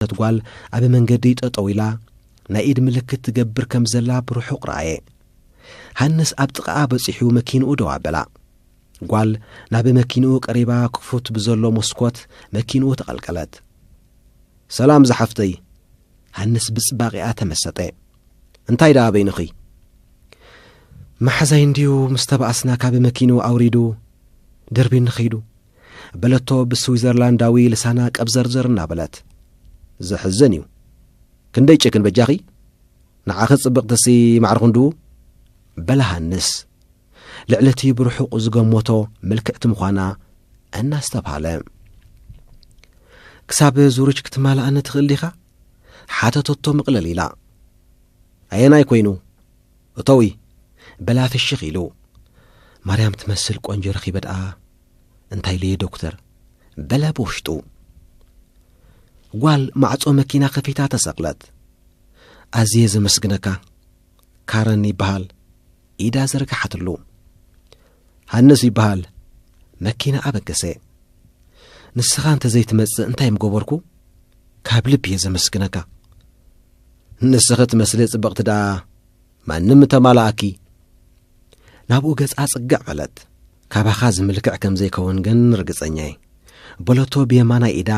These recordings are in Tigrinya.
ዝሓተት ጓል ኣብ መንገዲ ጠጠው ኢላ ናይ ኢድ ምልክት ትገብር ከም ዘላ ብርሑቕ ረኣየ። ሃንስ ኣብ ጥቓኣ በጺሑ መኪንኡ ደው ኣበላ። ጓል ናብ መኪንኡ ቀሪባ ክፉት ብዘሎ መስኮት መኪንኡ ተቐልቀለት። ሰላም ዝሓፍተይ! ሃንስ ብጽባቂኣ ተመሰጠ። እንታይ ደኣ በይንኺ? መሓዛይ እንድዩ ምስ ተባእስና ካብ መኪንኡ ኣውሪዱ ደርቢኒ ኸይዱ። በለቶ ብስዊዘርላንዳዊ ልሳና ቀብዘርዘር እናበለት። ዘሕዝን እዩ ክንደይ ጭክን በጃኺ ንዓኺ ጽብቕትሲ ማዕሪ ክንድኡ በለ ሃንስ ልዕሊ እቲ ብርሑቕ ዝገመቶ ምልክዕቲ ምዃና እናስተብሃለ ክሳብ ዙርች ክትማልኣኒ ትኽእል ዲኻ ሓተተቶ ምቕለል ኢላ ኣየናይ ኮይኑ እቶዊ በላ ፍሽኽ ኢሉ። ማርያም ትመስል ቆንጆ ረኺበ ደኣ እንታይ ኢለዮ ዶክተር? በለ ብውሽጡ። ጓል ማዕጾ መኪና ከፊታ ተሰቕለት። ኣዝየ ዘመስግነካ ካረን ይበሃል ኢዳ ዘርግሓትሉ። ሃንስ ይበሃል መኪና ኣበገሰ። ንስኻ እንተ ዘይትመጽእ እንታይ ምገበርኩ? ካብ ልቢ እየ ዘመስግነካ። ንስኺ ትመስሊ ጽብቕቲ ደኣ ማንም እተማልኣኪ። ናብኡ ገጻ ጽግዕ በለት። ካባኻ ዝምልክዕ ከም ዘይከውን ግን ርግጸኛ እየ። በለቶ ብየማናይ ኢዳ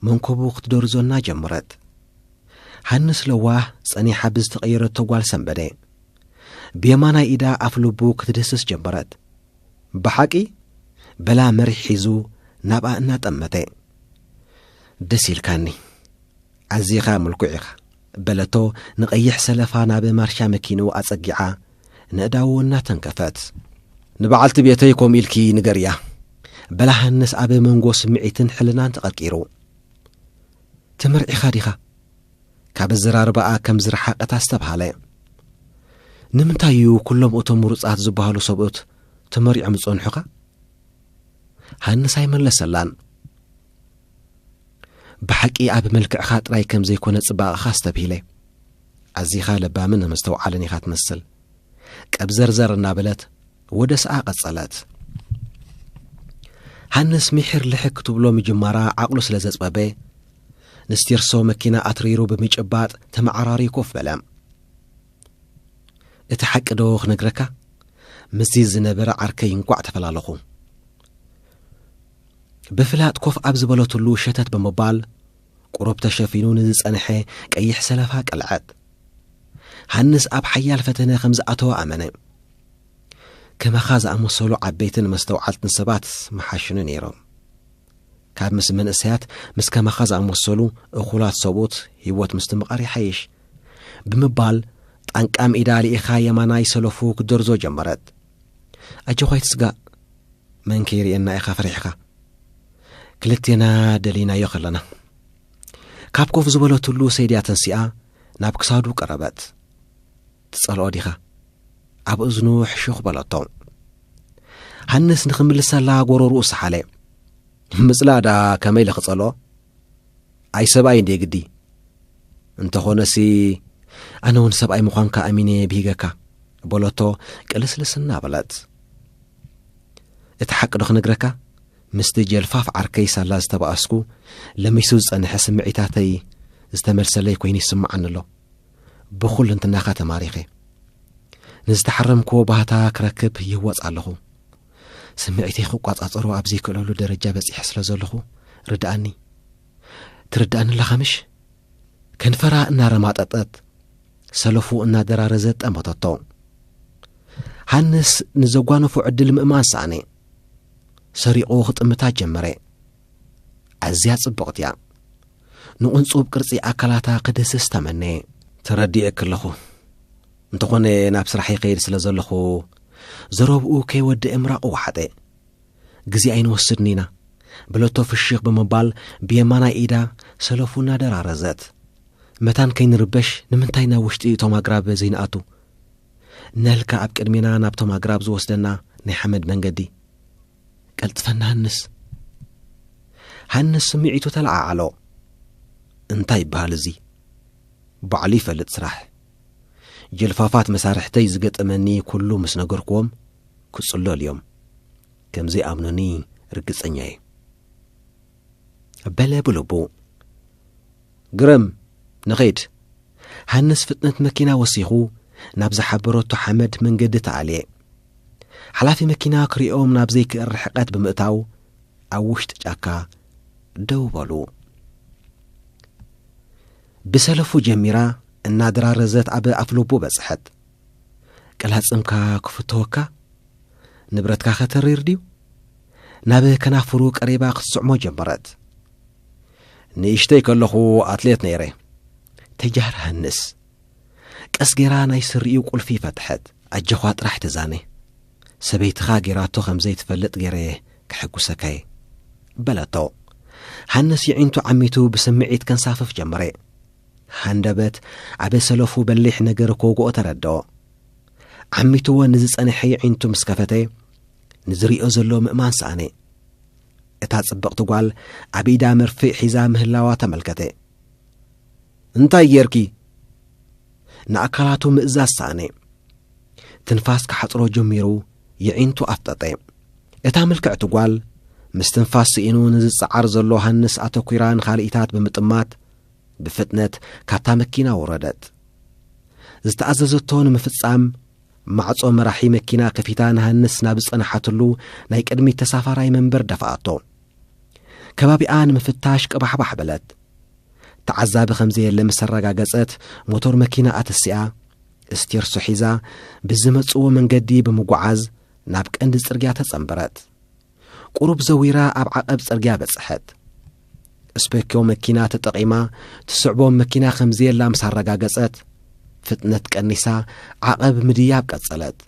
መንኮቡ ክትደርዞ እናጀመረት። ሃንስ ለዋህ ጸኒሓ ብዝተቐየረቶ ጓል ሰንበደ። ብየማናይ ኢዳ ኣፍ ልቡ ክትድህስስ ጀመረት። ብሓቂ በላ መሪሕ ሒዙ ናብኣ እናጠመተ። ደስ ኢልካኒ። ኣዚኻ ምልኩዕ ኢኻ በለቶ ንቐይሕ ሰለፋ ናብ ማርሻ መኪንኡ ኣጸጊዓ ነእዳዉ እናተንከፈት። ንበዓልቲ ቤተይ ከምኡ ኢልኪ ንገርያ በላ ሃንስ ኣብ መንጎ ስምዒትን ሕልናን ተቐርቂሩ። ተመርዒኻ ዲኻ? ካብ ኣዘራርባኣ ከም ዝረሓቐት ኣስተብሃለ። ንምንታይ እዩ ኩሎም እቶም ምሩጻት ዝበሃሉ ሰብኡት ተመሪዖም ዝጸንሑኻ? ሃንስ ኣይመለሰላን። ብሓቂ ኣብ መልክዕኻ ጥራይ ከም ዘይኮነ ጽባቐኻ ኣስተብሂለ። ኣዚኻ ለባምን መስተውዓልን ኢኻ ትመስል። ቀብዘርዘር እናበለት ወደስኣ ቀጸለት። ሃንስ ምሒር ልሕክ ክትብሎ ምጅማራ ዓቕሉ ስለ ዘጽበበ ንስቲርሶ መኪና ኣትሪሩ ብምጭባጥ ተመዓራሪ ኮፍ በለ እቲ ሓቂ ዶ ክነግረካ ምስዚ ዝነበረ ዓርከይ እንቋዕ ተፈላለኹ ብፍላጥ ኮፍ ኣብ ዝበለትሉ ሸተት ብምባል ቁሩብ ተሸፊኑ ንዝጸንሐ ቀይሕ ሰለፋ ቀልዐት። ሃንስ ኣብ ሓያል ፈተነ ከም ዝኣተወ ኣመነ። ከማኻ ዝኣመሰሉ ዓበይትን መስተውዓልትን ሰባት ምሓሽኑ ነይሮም። ካብ ምስ መንእሰያት ምስ ከማኻ ዝኣመሰሉ እኹላት ሰብኡት ህይወት ምስትምቓር ይሓይሽ ብምባል ጣንቃም ኢዳ ልኢኻ የማናይ ሰለፉ ክትደርዞ ጀመረት። ኣጆኻ ኣይትስጋእ መን ከይርእየና ኢኻ ፈሪሕካ ክልቴና ደሊናዮ ከለና ካብ ኮፍ ዝበለትሉ ሰይድያ ተንሲኣ ናብ ክሳዱ ቀረበት ትጸልኦ ዲኻ ኣብ እዝኑ ሕሹኽ በለቶ ሃንስ ንኽምልሰላ ጎረርኡ ሰሓለ ምጽላእ ደኣ ከመይ ኢለ ክጸልኦ ኣይ ሰብኣይ እንዴ ግዲ እንተኾነሲ ኣነ ውን ሰብኣይ ምዃንካ ኣሚነየ ብሂገካ በሎቶ ቅልስልስ እናበለት እቲ ሓቂ ዶ ክንግረካ ምስቲ ጀልፋፍ ዓርከይ ሳላ ዝተባኣስኩ ለሚሱ ዝጸንሐ ስምዒታተይ ዝተመልሰለይ ኮይኑ ይስምዓኒ ኣሎ ብኹል እንትናኻ ተማሪኸ ንዝተሓረምክዎ ባህታ ክረክብ ይህወፅ ኣለኹ ስምዒተይ ክቋጻጸሮ ኣብ ዘይክእለሉ ደረጃ በጺሐ ስለ ዘለኹ ርድኣኒ ትርድኣኒ ኣለኻ ምሽ ከንፈራ እናረማጠጠት ሰለፉ እናደራረዘት ጠመተቶ ሃንስ ንዘጓነፎ ዕድል ምእማን ሰኣነ ሰሪቑ ክጥምታ ጀመረ ኣዝያ ጽቡቕት እያ ንቕንጹብ ቅርጺ ኣካላታ ክድህስስ ተመነየ ተረዲኤ ከለኹ እንተኾነ ናብ ስራሕ ይኸይድ ስለ ዘለኹ ዘረብኡ ከይወድእ ምራቑ ወሓጠ። ግዜ ኣይንወስድን ኢና በለቶ ፍሽኽ ብምባል ብየማናይ ኢዳ ሰለፉ እናደራረዘት። መታን ከይንርበሽ ንምንታይ ናብ ውሽጢ እቶም ኣግራብ ዘይንኣቱ? ነልካ ኣብ ቅድሜና ናብቶም ኣግራብ ዝወስደና ናይ ሓመድ መንገዲ። ቀልጥፈ ንሃንስ። ሃንስ ስምዒቱ ተለዓዓሎ። እንታይ ይበሃል እዚ? ባዕሉ ይፈልጥ ስራሕ። ጅልፋፋት መሳርሕተይ ዝገጠመኒ ኩሉ ምስ ነገርክዎም ክጽለሉ እዮም ከም ዘይኣምኑኒ ርግጸኛ እየ በለ ብልቡ ግረም ንኸይድ ሃንስ ፍጥነት መኪና ወሲኹ ናብ ዝሓበረቶ ሓመድ መንገዲ ተኣልየ ሓላፊ መኪና ክሪኦም ናብ ዘይክእል ርሕቀት ብምእታው ኣብ ውሽጢ ጫካ ደው በሉ ብሰለፉ ጀሚራ እናደራረዘት ኣብ ኣፍልቡ በጽሐት። ቅላጽምካ ክፍተወካ? ንብረትካኸ ተሪር ድዩ? ናብ ከናፍሩ ቀሪባ ክትስዕሞ ጀመረት። ንእሽተይ ከለኹ ኣትሌት ነይረ። ተጃር ሃንስ። ቀስ ገይራ ናይ ስሪኡ ቁልፊ ፈትሐት። ኣጀዃ ጥራሕ ተዛነ። ሰበይትኻ ጌራቶ ከም ዘይትፈልጥ ጌረ'የ ከሐጉሰካ'የ። በለቶ። ሃንስ የዒንቱ ዓሚቱ ብስምዒት ከንሳፍፍ ጀመረ። ሃንደበት ኣብ ሰለፉ በሊሕ ነገር ክወግኦ ተረድኦ። ዓሚትዎ ንዝጸንሐ የዒንቱ ምስ ከፈተ ንዝሪኦ ዘሎ ምእማን ሰኣነ። እታ ጽብቕቲ ጓል ኣብ ኢዳ መርፍእ ሒዛ ምህላዋ ተመልከተ። እንታይ ጌርኪ? ንኣካላቱ ምእዛዝ ሰኣነ። ትንፋስ ክሓጽሮ ጀሚሩ የዒንቱ ኣፍጠጠ። እታ ምልክዕቲ ጓል ምስ ትንፋስ ስኢኑ ንዝጸዓር ዘሎ ሃንስ ኣተኲራ ንኻልኢታት ብምጥማት ብፍጥነት ካብታ መኪና ወረደት። ዝተኣዘዘቶ ንምፍጻም ማዕጾ መራሒ መኪና ከፊታ ንሃንስ ናብ ዝጸንሓትሉ ናይ ቅድሚት ተሳፋራይ መንበር ደፋኣቶ። ከባቢኣ ንምፍታሽ ቅባሕባሕ በለት። ተዓዛቢ ከም ዘየለ ምስ ኣረጋገጸት ሞቶር መኪና ኣተሲኣ እስቴርሶ ሒዛ ብዝመጽዎ መንገዲ ብምጉዓዝ ናብ ቀንዲ ጽርግያ ተጸንበረት። ቁሩብ ዘዊራ ኣብ ዓቐብ ጽርግያ በጽሐት። ስፔኪዮ መኪና ተጠቒማ ትስዕቦም መኪና ከም ዘየላ ምስ ኣረጋገጸት ፍጥነት ቀኒሳ ዓቐብ ምድያብ ቀጸለት።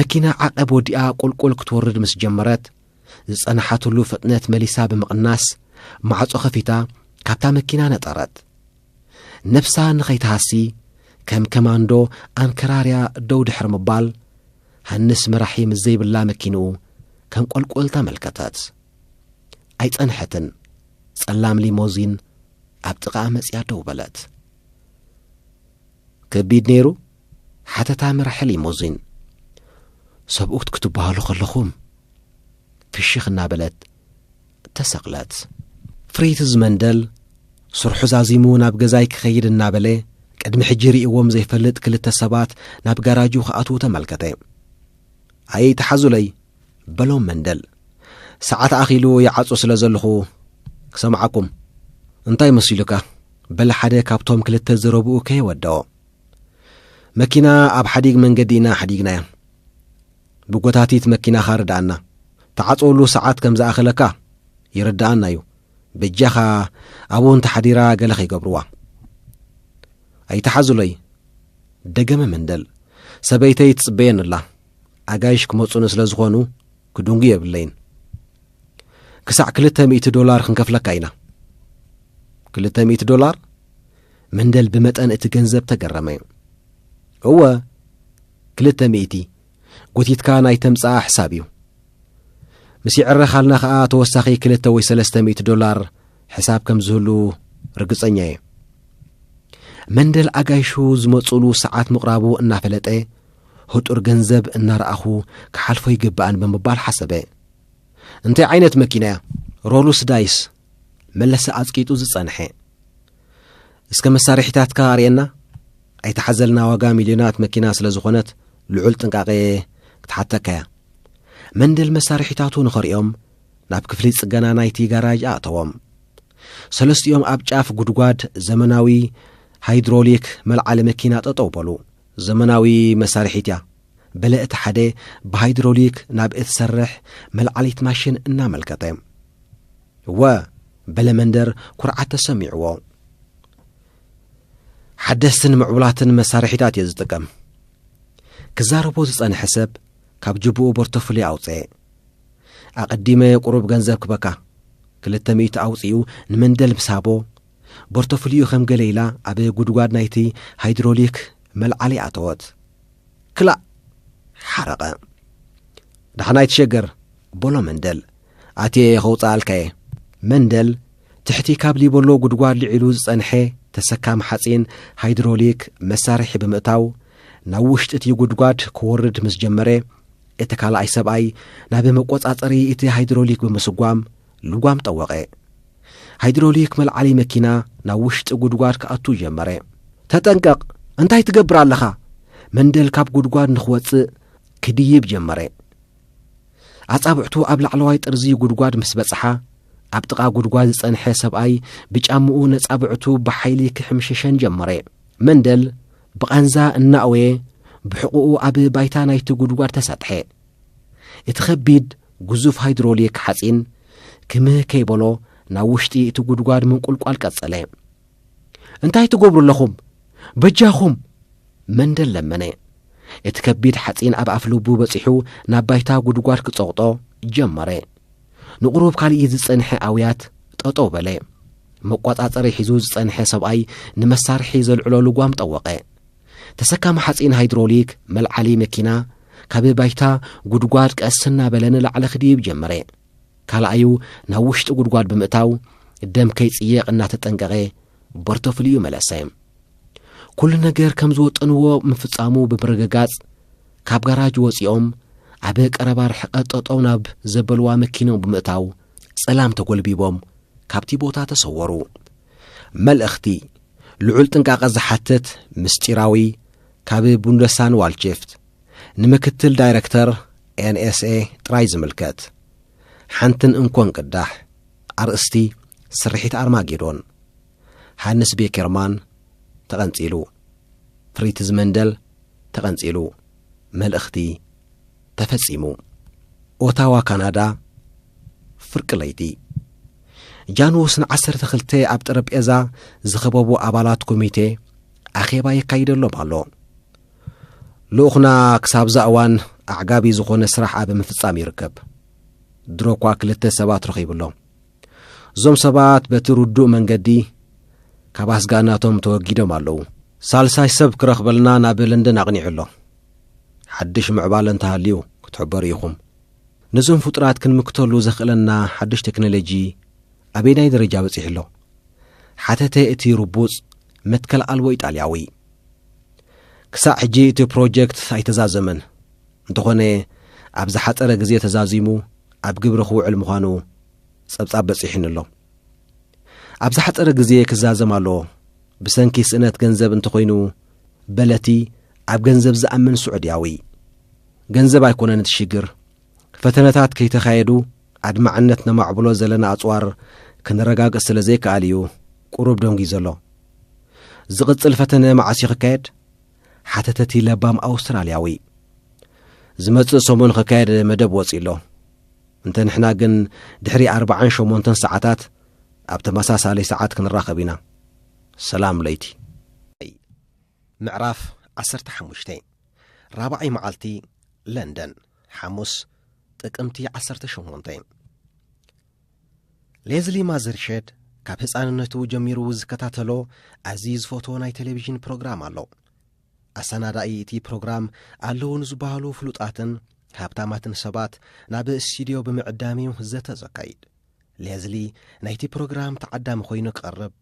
መኪና ዓቐብ ወዲኣ ቁልቁል ክትወርድ ምስ ጀመረት ዝጸንሓትሉ ፍጥነት መሊሳ ብምቕናስ ማዕጾ ከፊታ ካብታ መኪና ነጠረት ነብሳ ንኸይትሃሲ ከም ከማንዶ ኣንከራርያ ደው ድሕሪ ምባል ሃንስ መራሒ ምስ ዘይብላ መኪንኡ ከም ቈልቈል ተመልከተት ኣይጸንሐትን ጸላም ሊሞዚን ኣብ ጥቓ መጽያ ደው በለት ከቢድ ነይሩ ሓተታ መራሒ ሊሞዚን፣ ሰብኡት ክትበሃሉ ከለኹም፣ ፍሽኽ እናበለት ተሰቕለት። ፍሪትዝ መንደል ስርሑ ዛዚሙ ናብ ገዛይ ክኸይድ እናበለ፣ ቅድሚ ሕጂ ርእይዎም ዘይፈልጥ ክልተ ሰባት ናብ ጋራጁ ክኣትዉ ተመልከተ። ኣይትሓዙለይ፣ በሎም መንደል። ሰዓት ኣኺሉ ይዓጹ ስለ ዘለኹ ክሰምዓኩም። እንታይ መሲሉካ? በለ ሓደ ካብቶም ክልተ ዘረብኡ ከየወደኦ። መኪና ኣብ ሓዲግ መንገዲ ኢና ሓዲግናያ። ብጎታቲት መኪናኻ ርድኣና። ትዓጽወሉ ሰዓት ከም ዝኣኸለካ ይርድኣና እዩ። በጃኻ ኣብኡ እንተሓዲራ ገለ ከይገብርዋ። ኣይትሓዙለይ ደገመ መንደል። ሰበይተይ ትጽበየን ኣላ ኣጋይሽ ክመጹኒ ስለ ዝኾኑ ክድንጉ የብለይን ክሳዕ ክልተ ሚእቲ ዶላር ክንከፍለካ ኢና ክልተ ሚእቲ ዶላር መንደል ብመጠን እቲ ገንዘብ ተገረመ። እወ ክልተ ሚእቲ ጎቲትካ ናይ ተምጽኣ ሕሳብ እዩ። ምስ ይዕረኻልና ከኣ ተወሳኺ ክልተ ወይ ሰለስተ ሚእቲ ዶላር ሕሳብ ከም ዝህሉ ርግጸኛ እየ። መንደል ኣጋይሹ ዝመጽሉ ሰዓት ምቕራቡ እናፈለጠ ህጡር ገንዘብ እናረኣኹ ክሓልፎ ይግባእን ብምባል ሓሰበ። እንታይ ዓይነት መኪና እያ? ሮሉስ ዳይስ መለሰ ኣጽቂጡ ዝጸንሐ እስከ መሳርሒታትካ ኣርእየና ኣይተሓዘልና ዋጋ ሚልዮናት መኪና ስለ ዝኾነት ልዑል ጥንቃቐ ክትሓተካያ መንደል መሳርሒታቱ ንኸርእዮም ናብ ክፍሊ ጽገና ናይቲ ጋራጅ ኣእተዎም ሰለስቲኦም ኣብ ጫፍ ጉድጓድ ዘመናዊ ሃይድሮሊክ መልዓሊ መኪና ጠጠው በሉ ዘመናዊ መሳርሒት እያ በለ እቲ ሓደ ብሃይድሮሊክ ናብ እትሰርሕ መልዓሊት ማሽን እናመልከተ። እወ፣ በለ መንደር ኩርዓት ተሰሚዕዎ። ሓደስትን ምዕቡላትን መሳርሒታት እየ ዝጥቀም። ክዛረቦ ዝጸንሐ ሰብ ካብ ጅብኡ ቦርቶፍሊ ኣውፅኤ ኣቐዲመ ቁሩብ ገንዘብ ክበካ ክልተ ሚእቲ ኣውፂኡ ንመንደል ምስ ሃቦ ቦርተፍልዩ ከም ገለ ኢላ ኣብ ጉድጓድ ናይቲ ሃይድሮሊክ መልዓሊ ኣተወት። ክላእ! ሓረቐ። ደሓን ኣይትሸገር፣ በሎ መንደል። ኣትየ'የ ከውጽኣልካ'የ። መንደል ትሕቲ ካብ ሊበሎ ጉድጓድ ልዒሉ ዝጸንሐ ተሰካሚ ሓጺን ሃይድሮሊክ መሳርሒ ብምእታው ናብ ውሽጢ እቲ ጉድጓድ ክወርድ ምስ ጀመረ እቲ ካልኣይ ሰብኣይ ናብ መቆጻጸሪ እቲ ሃይድሮሊክ ብምስጓም ልጓም ጠወቐ። ሃይድሮሊክ መልዓሊ መኪና ናብ ውሽጢ ጉድጓድ ክኣቱ ጀመረ። ተጠንቀቕ! እንታይ ትገብር ኣለኻ? መንደል ካብ ጉድጓድ ንኽወጽእ ክድይብ ጀመረ። ኣጻብዕቱ ኣብ ላዕለዋይ ጥርዚ ጉድጓድ ምስ በጽሓ ኣብ ጥቓ ጉድጓድ ዝጸንሐ ሰብኣይ ብጫምኡ ነጻብዕቱ ብሓይሊ ክሕምሽሸን ጀመረ መንደል ብቓንዛ እናእወየ ብሕቑኡ ኣብ ባይታ ናይቲ ጉድጓድ ተሰጥሐ እቲ ከቢድ ግዙፍ ሃይድሮሊክ ሓጺን ክምህ ከይበሎ ናብ ውሽጢ እቲ ጉድጓድ ምንቁልቋል ቀጸለ። እንታይ ትገብሩ ኣለኹም? በጃኹም! መንደል ለመነ። እቲ ከቢድ ሓጺን ኣብ ኣፍ ልቡ በጺሑ ናብ ባይታ ጉድጓድ ክጸቕጦ ጀመረ። ንቑሩብ ካልእ ዝጸንሐ ኣውያት ጠጠው በለ። መቋጻጸሪ ሒዙ ዝጸንሐ ሰብኣይ ንመሳርሒ ዘልዕሎ ልጓም ጠወቐ። ተሰካሚ ሓፂን ሃይድሮሊክ መልዓሊ መኪና ካብ ባይታ ጉድጓድ ቀስ እናበለ ንላዕሊ ክድይብ ጀመረ ካልኣዩ ናብ ውሽጢ ጉድጓድ ብምእታው ደም ከይጽየቕ እናተጠንቀቐ ቦርቶፍልዩ መለሰ ኩሉ ነገር ከም ዝወጠንዎ ምፍጻሙ ብምርግጋጽ ካብ ጋራጅ ወፂኦም ኣብ ቀረባ ርሕቐት ጠጠው ናብ ዘበልዋ መኪኖም ብምእታው ጸላም ተጐልቢቦም ካብቲ ቦታ ተሰወሩ መልእኽቲ ልዑል ጥንቃቐ ዝሓትት ምስጢራዊ ካብ ቡንደሳን ዋልቺፍት ንምክትል ዳይረክተር NSA ጥራይ ዝምልከት ሓንትን እንኮን ቅዳሕ ኣርእስቲ ስርሒት ኣርማጌዶን ሃንስ ቤኬርማን ተቐንጺሉ ፍሪትዝ መንደል ተቐንጺሉ መልእኽቲ ተፈጺሙ። ኦታዋ ካናዳ፣ ፍርቂ ለይቲ ጃንኡስ ን ዓሰርተ ክልተ ኣብ ጠረጴዛ ዝኸበቡ ኣባላት ኮሚቴ ኣኼባ የካይደሎም ኣሎ። ልኡኽና ክሳብዛ እዋን ኣዕጋቢ ዝኾነ ስራሕ ኣብ ምፍጻም ይርከብ። ድሮ እኳ ክልተ ሰባት ረኺቡሎ። እዞም ሰባት በቲ ርዱእ መንገዲ ካብ ኣስጋእናቶም ተወጊዶም ኣለዉ። ሳልሳይ ሰብ ክረኽበልና ናብ ለንደን ኣቕኒዑ ኣሎ። ሓድሽ ምዕባለ እንተሃልዩ ክትሕበሩ ኢኹም። ነዞም ፍጡራት ክንምክተሉ ዘኽእለና ሓድሽ ቴክኖሎጂ ኣበየናይ ደረጃ በጺሑ ኣሎ? ሓተተ እቲ ርቡጽ መትከል ኣልቦ ኢጣልያዊ። ክሳዕ ሕጂ እቲ ፕሮጀክት ኣይተዛዘመን፣ እንተኾነ ኣብ ዝሓጸረ ግዜ ተዛዚሙ ኣብ ግብሪ ክውዕል ምዃኑ ጸብጻብ በጺሑኒ ኣሎ። ኣብ ዝሓጸረ ግዜ ክዛዘም ኣለዎ። ብሰንኪ ስእነት ገንዘብ እንተኾይኑ በለቲ ኣብ ገንዘብ ዝኣምን ስዑድያዊ። ገንዘብ ኣይኮነን እቲ ሽግር። ፈተነታት ከይተኻየዱ ኣድማዕነት ነማዕብሎ ዘለና ኣጽዋር ክንረጋግጽ ስለ ዘይከኣል እዩ ቁሩብ ደንጒዩ ዘሎ። ዝቕጽል ፈተነ መዓስ እዩ ክካየድ? ሓተተ እቲ ለባም ኣውስትራልያዊ። ዝመጽእ ሰሙን ክካየድ መደብ ወጺኡ ኣሎ። እንተ ንሕና ግን ድሕሪ ኣርባዓን ሸሞንተን ሰዓታት ኣብ ተመሳሳሊ ሰዓት ክንራኸብ ኢና። ሰላም ለይቲ። ምዕራፍ ዓሰርተ ሓሙሽተ ራብዓይ መዓልቲ ለንደን ሓሙስ ጥቅምቲ ዓሰርተ ሸሞንተ ሌዝሊ ማዘርሸድ ካብ ህፃንነቱ ጀሚሩ ዝከታተሎ ኣዝዩ ዝፈትዎ ናይ ቴሌቭዥን ፕሮግራም ኣሎ። ኣሰናዳኢ እቲ ፕሮግራም ኣለዉ ንዝበሃሉ ፍሉጣትን ሃብታማትን ሰባት ናብ ስቱድዮ ብምዕዳም እዩ ዘተ ዘካይድ። ሌዝሊ ናይቲ ፕሮግራም ተዓዳሚ ኮይኑ ክቐርብ፣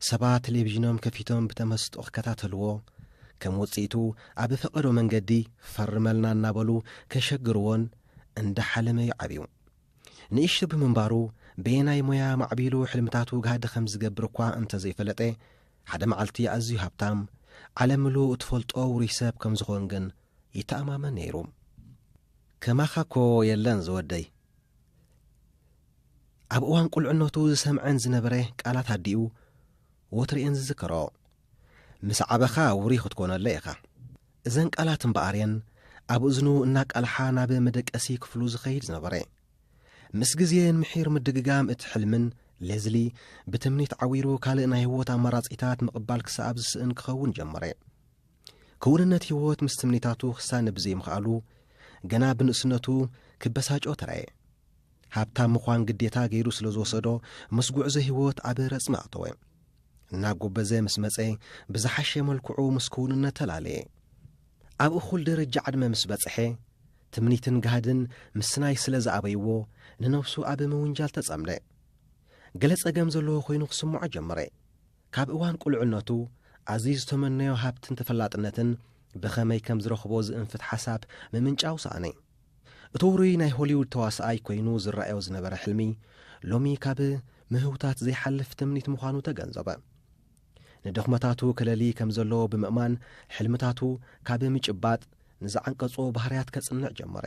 ሰባት ቴሌቪዥኖም ከፊቶም ብተመስጦ ክከታተልዎ፣ ከም ውጽኢቱ ኣብ ፈቐዶ መንገዲ ፈርመልና እናበሉ ከሸግርዎን እንዳሓለመ እዩ ዓብዩ። ንእሽቶ ብምንባሩ በየናይ ሞያ ማዕቢሉ ሕልምታቱ ጋህዲ ከም ዝገብር እኳ እንተዘይፈለጠ፣ ሓደ መዓልቲ ኣዝዩ ሃብታም፣ ዓለም ምሉእ እትፈልጦ ውሩይ ሰብ ከም ዝዀን ግን ይተኣማመን ነይሩ። ከማኻ እኮ የለን ዝወደይ። ኣብ እዋን ቁልዕነቱ ዝሰምዐን ዝነበረ ቃላት ኣዲኡ ወትሩ እየን ዝዝከሮ። ምስ ዓበኻ ውሩይ ክትኰነለይ ኢኻ። እዘን ቃላት እምበኣር እየን ኣብ እዝኑ እናቃልሓ ናብ መደቀሲ ክፍሉ ዝኸይድ ዝነበረ። ምስ ግዜ ንምሒር ምድግጋም እቲ ሕልምን፣ ሌዝሊ፣ ብትምኒት ዓዊሩ ካልእ ናይ ህይወት ኣማራጺታት ምቕባል ክሰኣብ ዝስእን ክኸውን ጀመረ። ክውንነት ህይወት ምስ ትምኒታቱ ክሳነ ብዘይምኽኣሉ ገና ብንእስነቱ ክበሳጮ ተራየ። ሃብታም ምዃን ግዴታ ገይሩ ስለ ዝወሰዶ ምስ ጉዕዞ ህይወት ኣብ ረጽሚ ኣተወ። እናጎበዘ ምስ መጸ ብዝሓሸ መልክዑ ምስ ክውንነት ተላለየ። ኣብ እኹል ደረጃ ዕድመ ምስ በጽሐ፣ ትምኒትን ጋህድን ምስናይ ስለ ዝኣበይዎ፣ ንነብሱ ኣብ ምውንጃል ተጸምደ። ገለ ጸገም ዘለዎ ኰይኑ ክስምዖ ጀመረ። ካብ እዋን ቍልዕነቱ ኣዝዩ ዝተመነዮ ሃብትን ተፈላጥነትን ብኸመይ ከም ዝረኽቦ ዝእንፍት ሓሳብ ምምንጫው ሰኣነ። እቲ ውሩይ ናይ ሆሊውድ ተዋሳኣይ ኰይኑ ዝረኣዮ ዝነበረ ሕልሚ፣ ሎሚ ካብ ምህውታት ዘይሓልፍ ትምኒት ምዃኑ ተገንዘበ። ንድኽመታቱ ክለልይ ከም ዘለዎ ብምእማን ሕልምታቱ ካብ ምጭባጥ ንዝዓንቀጾ ባህርያት ከጽንዕ ጀመረ።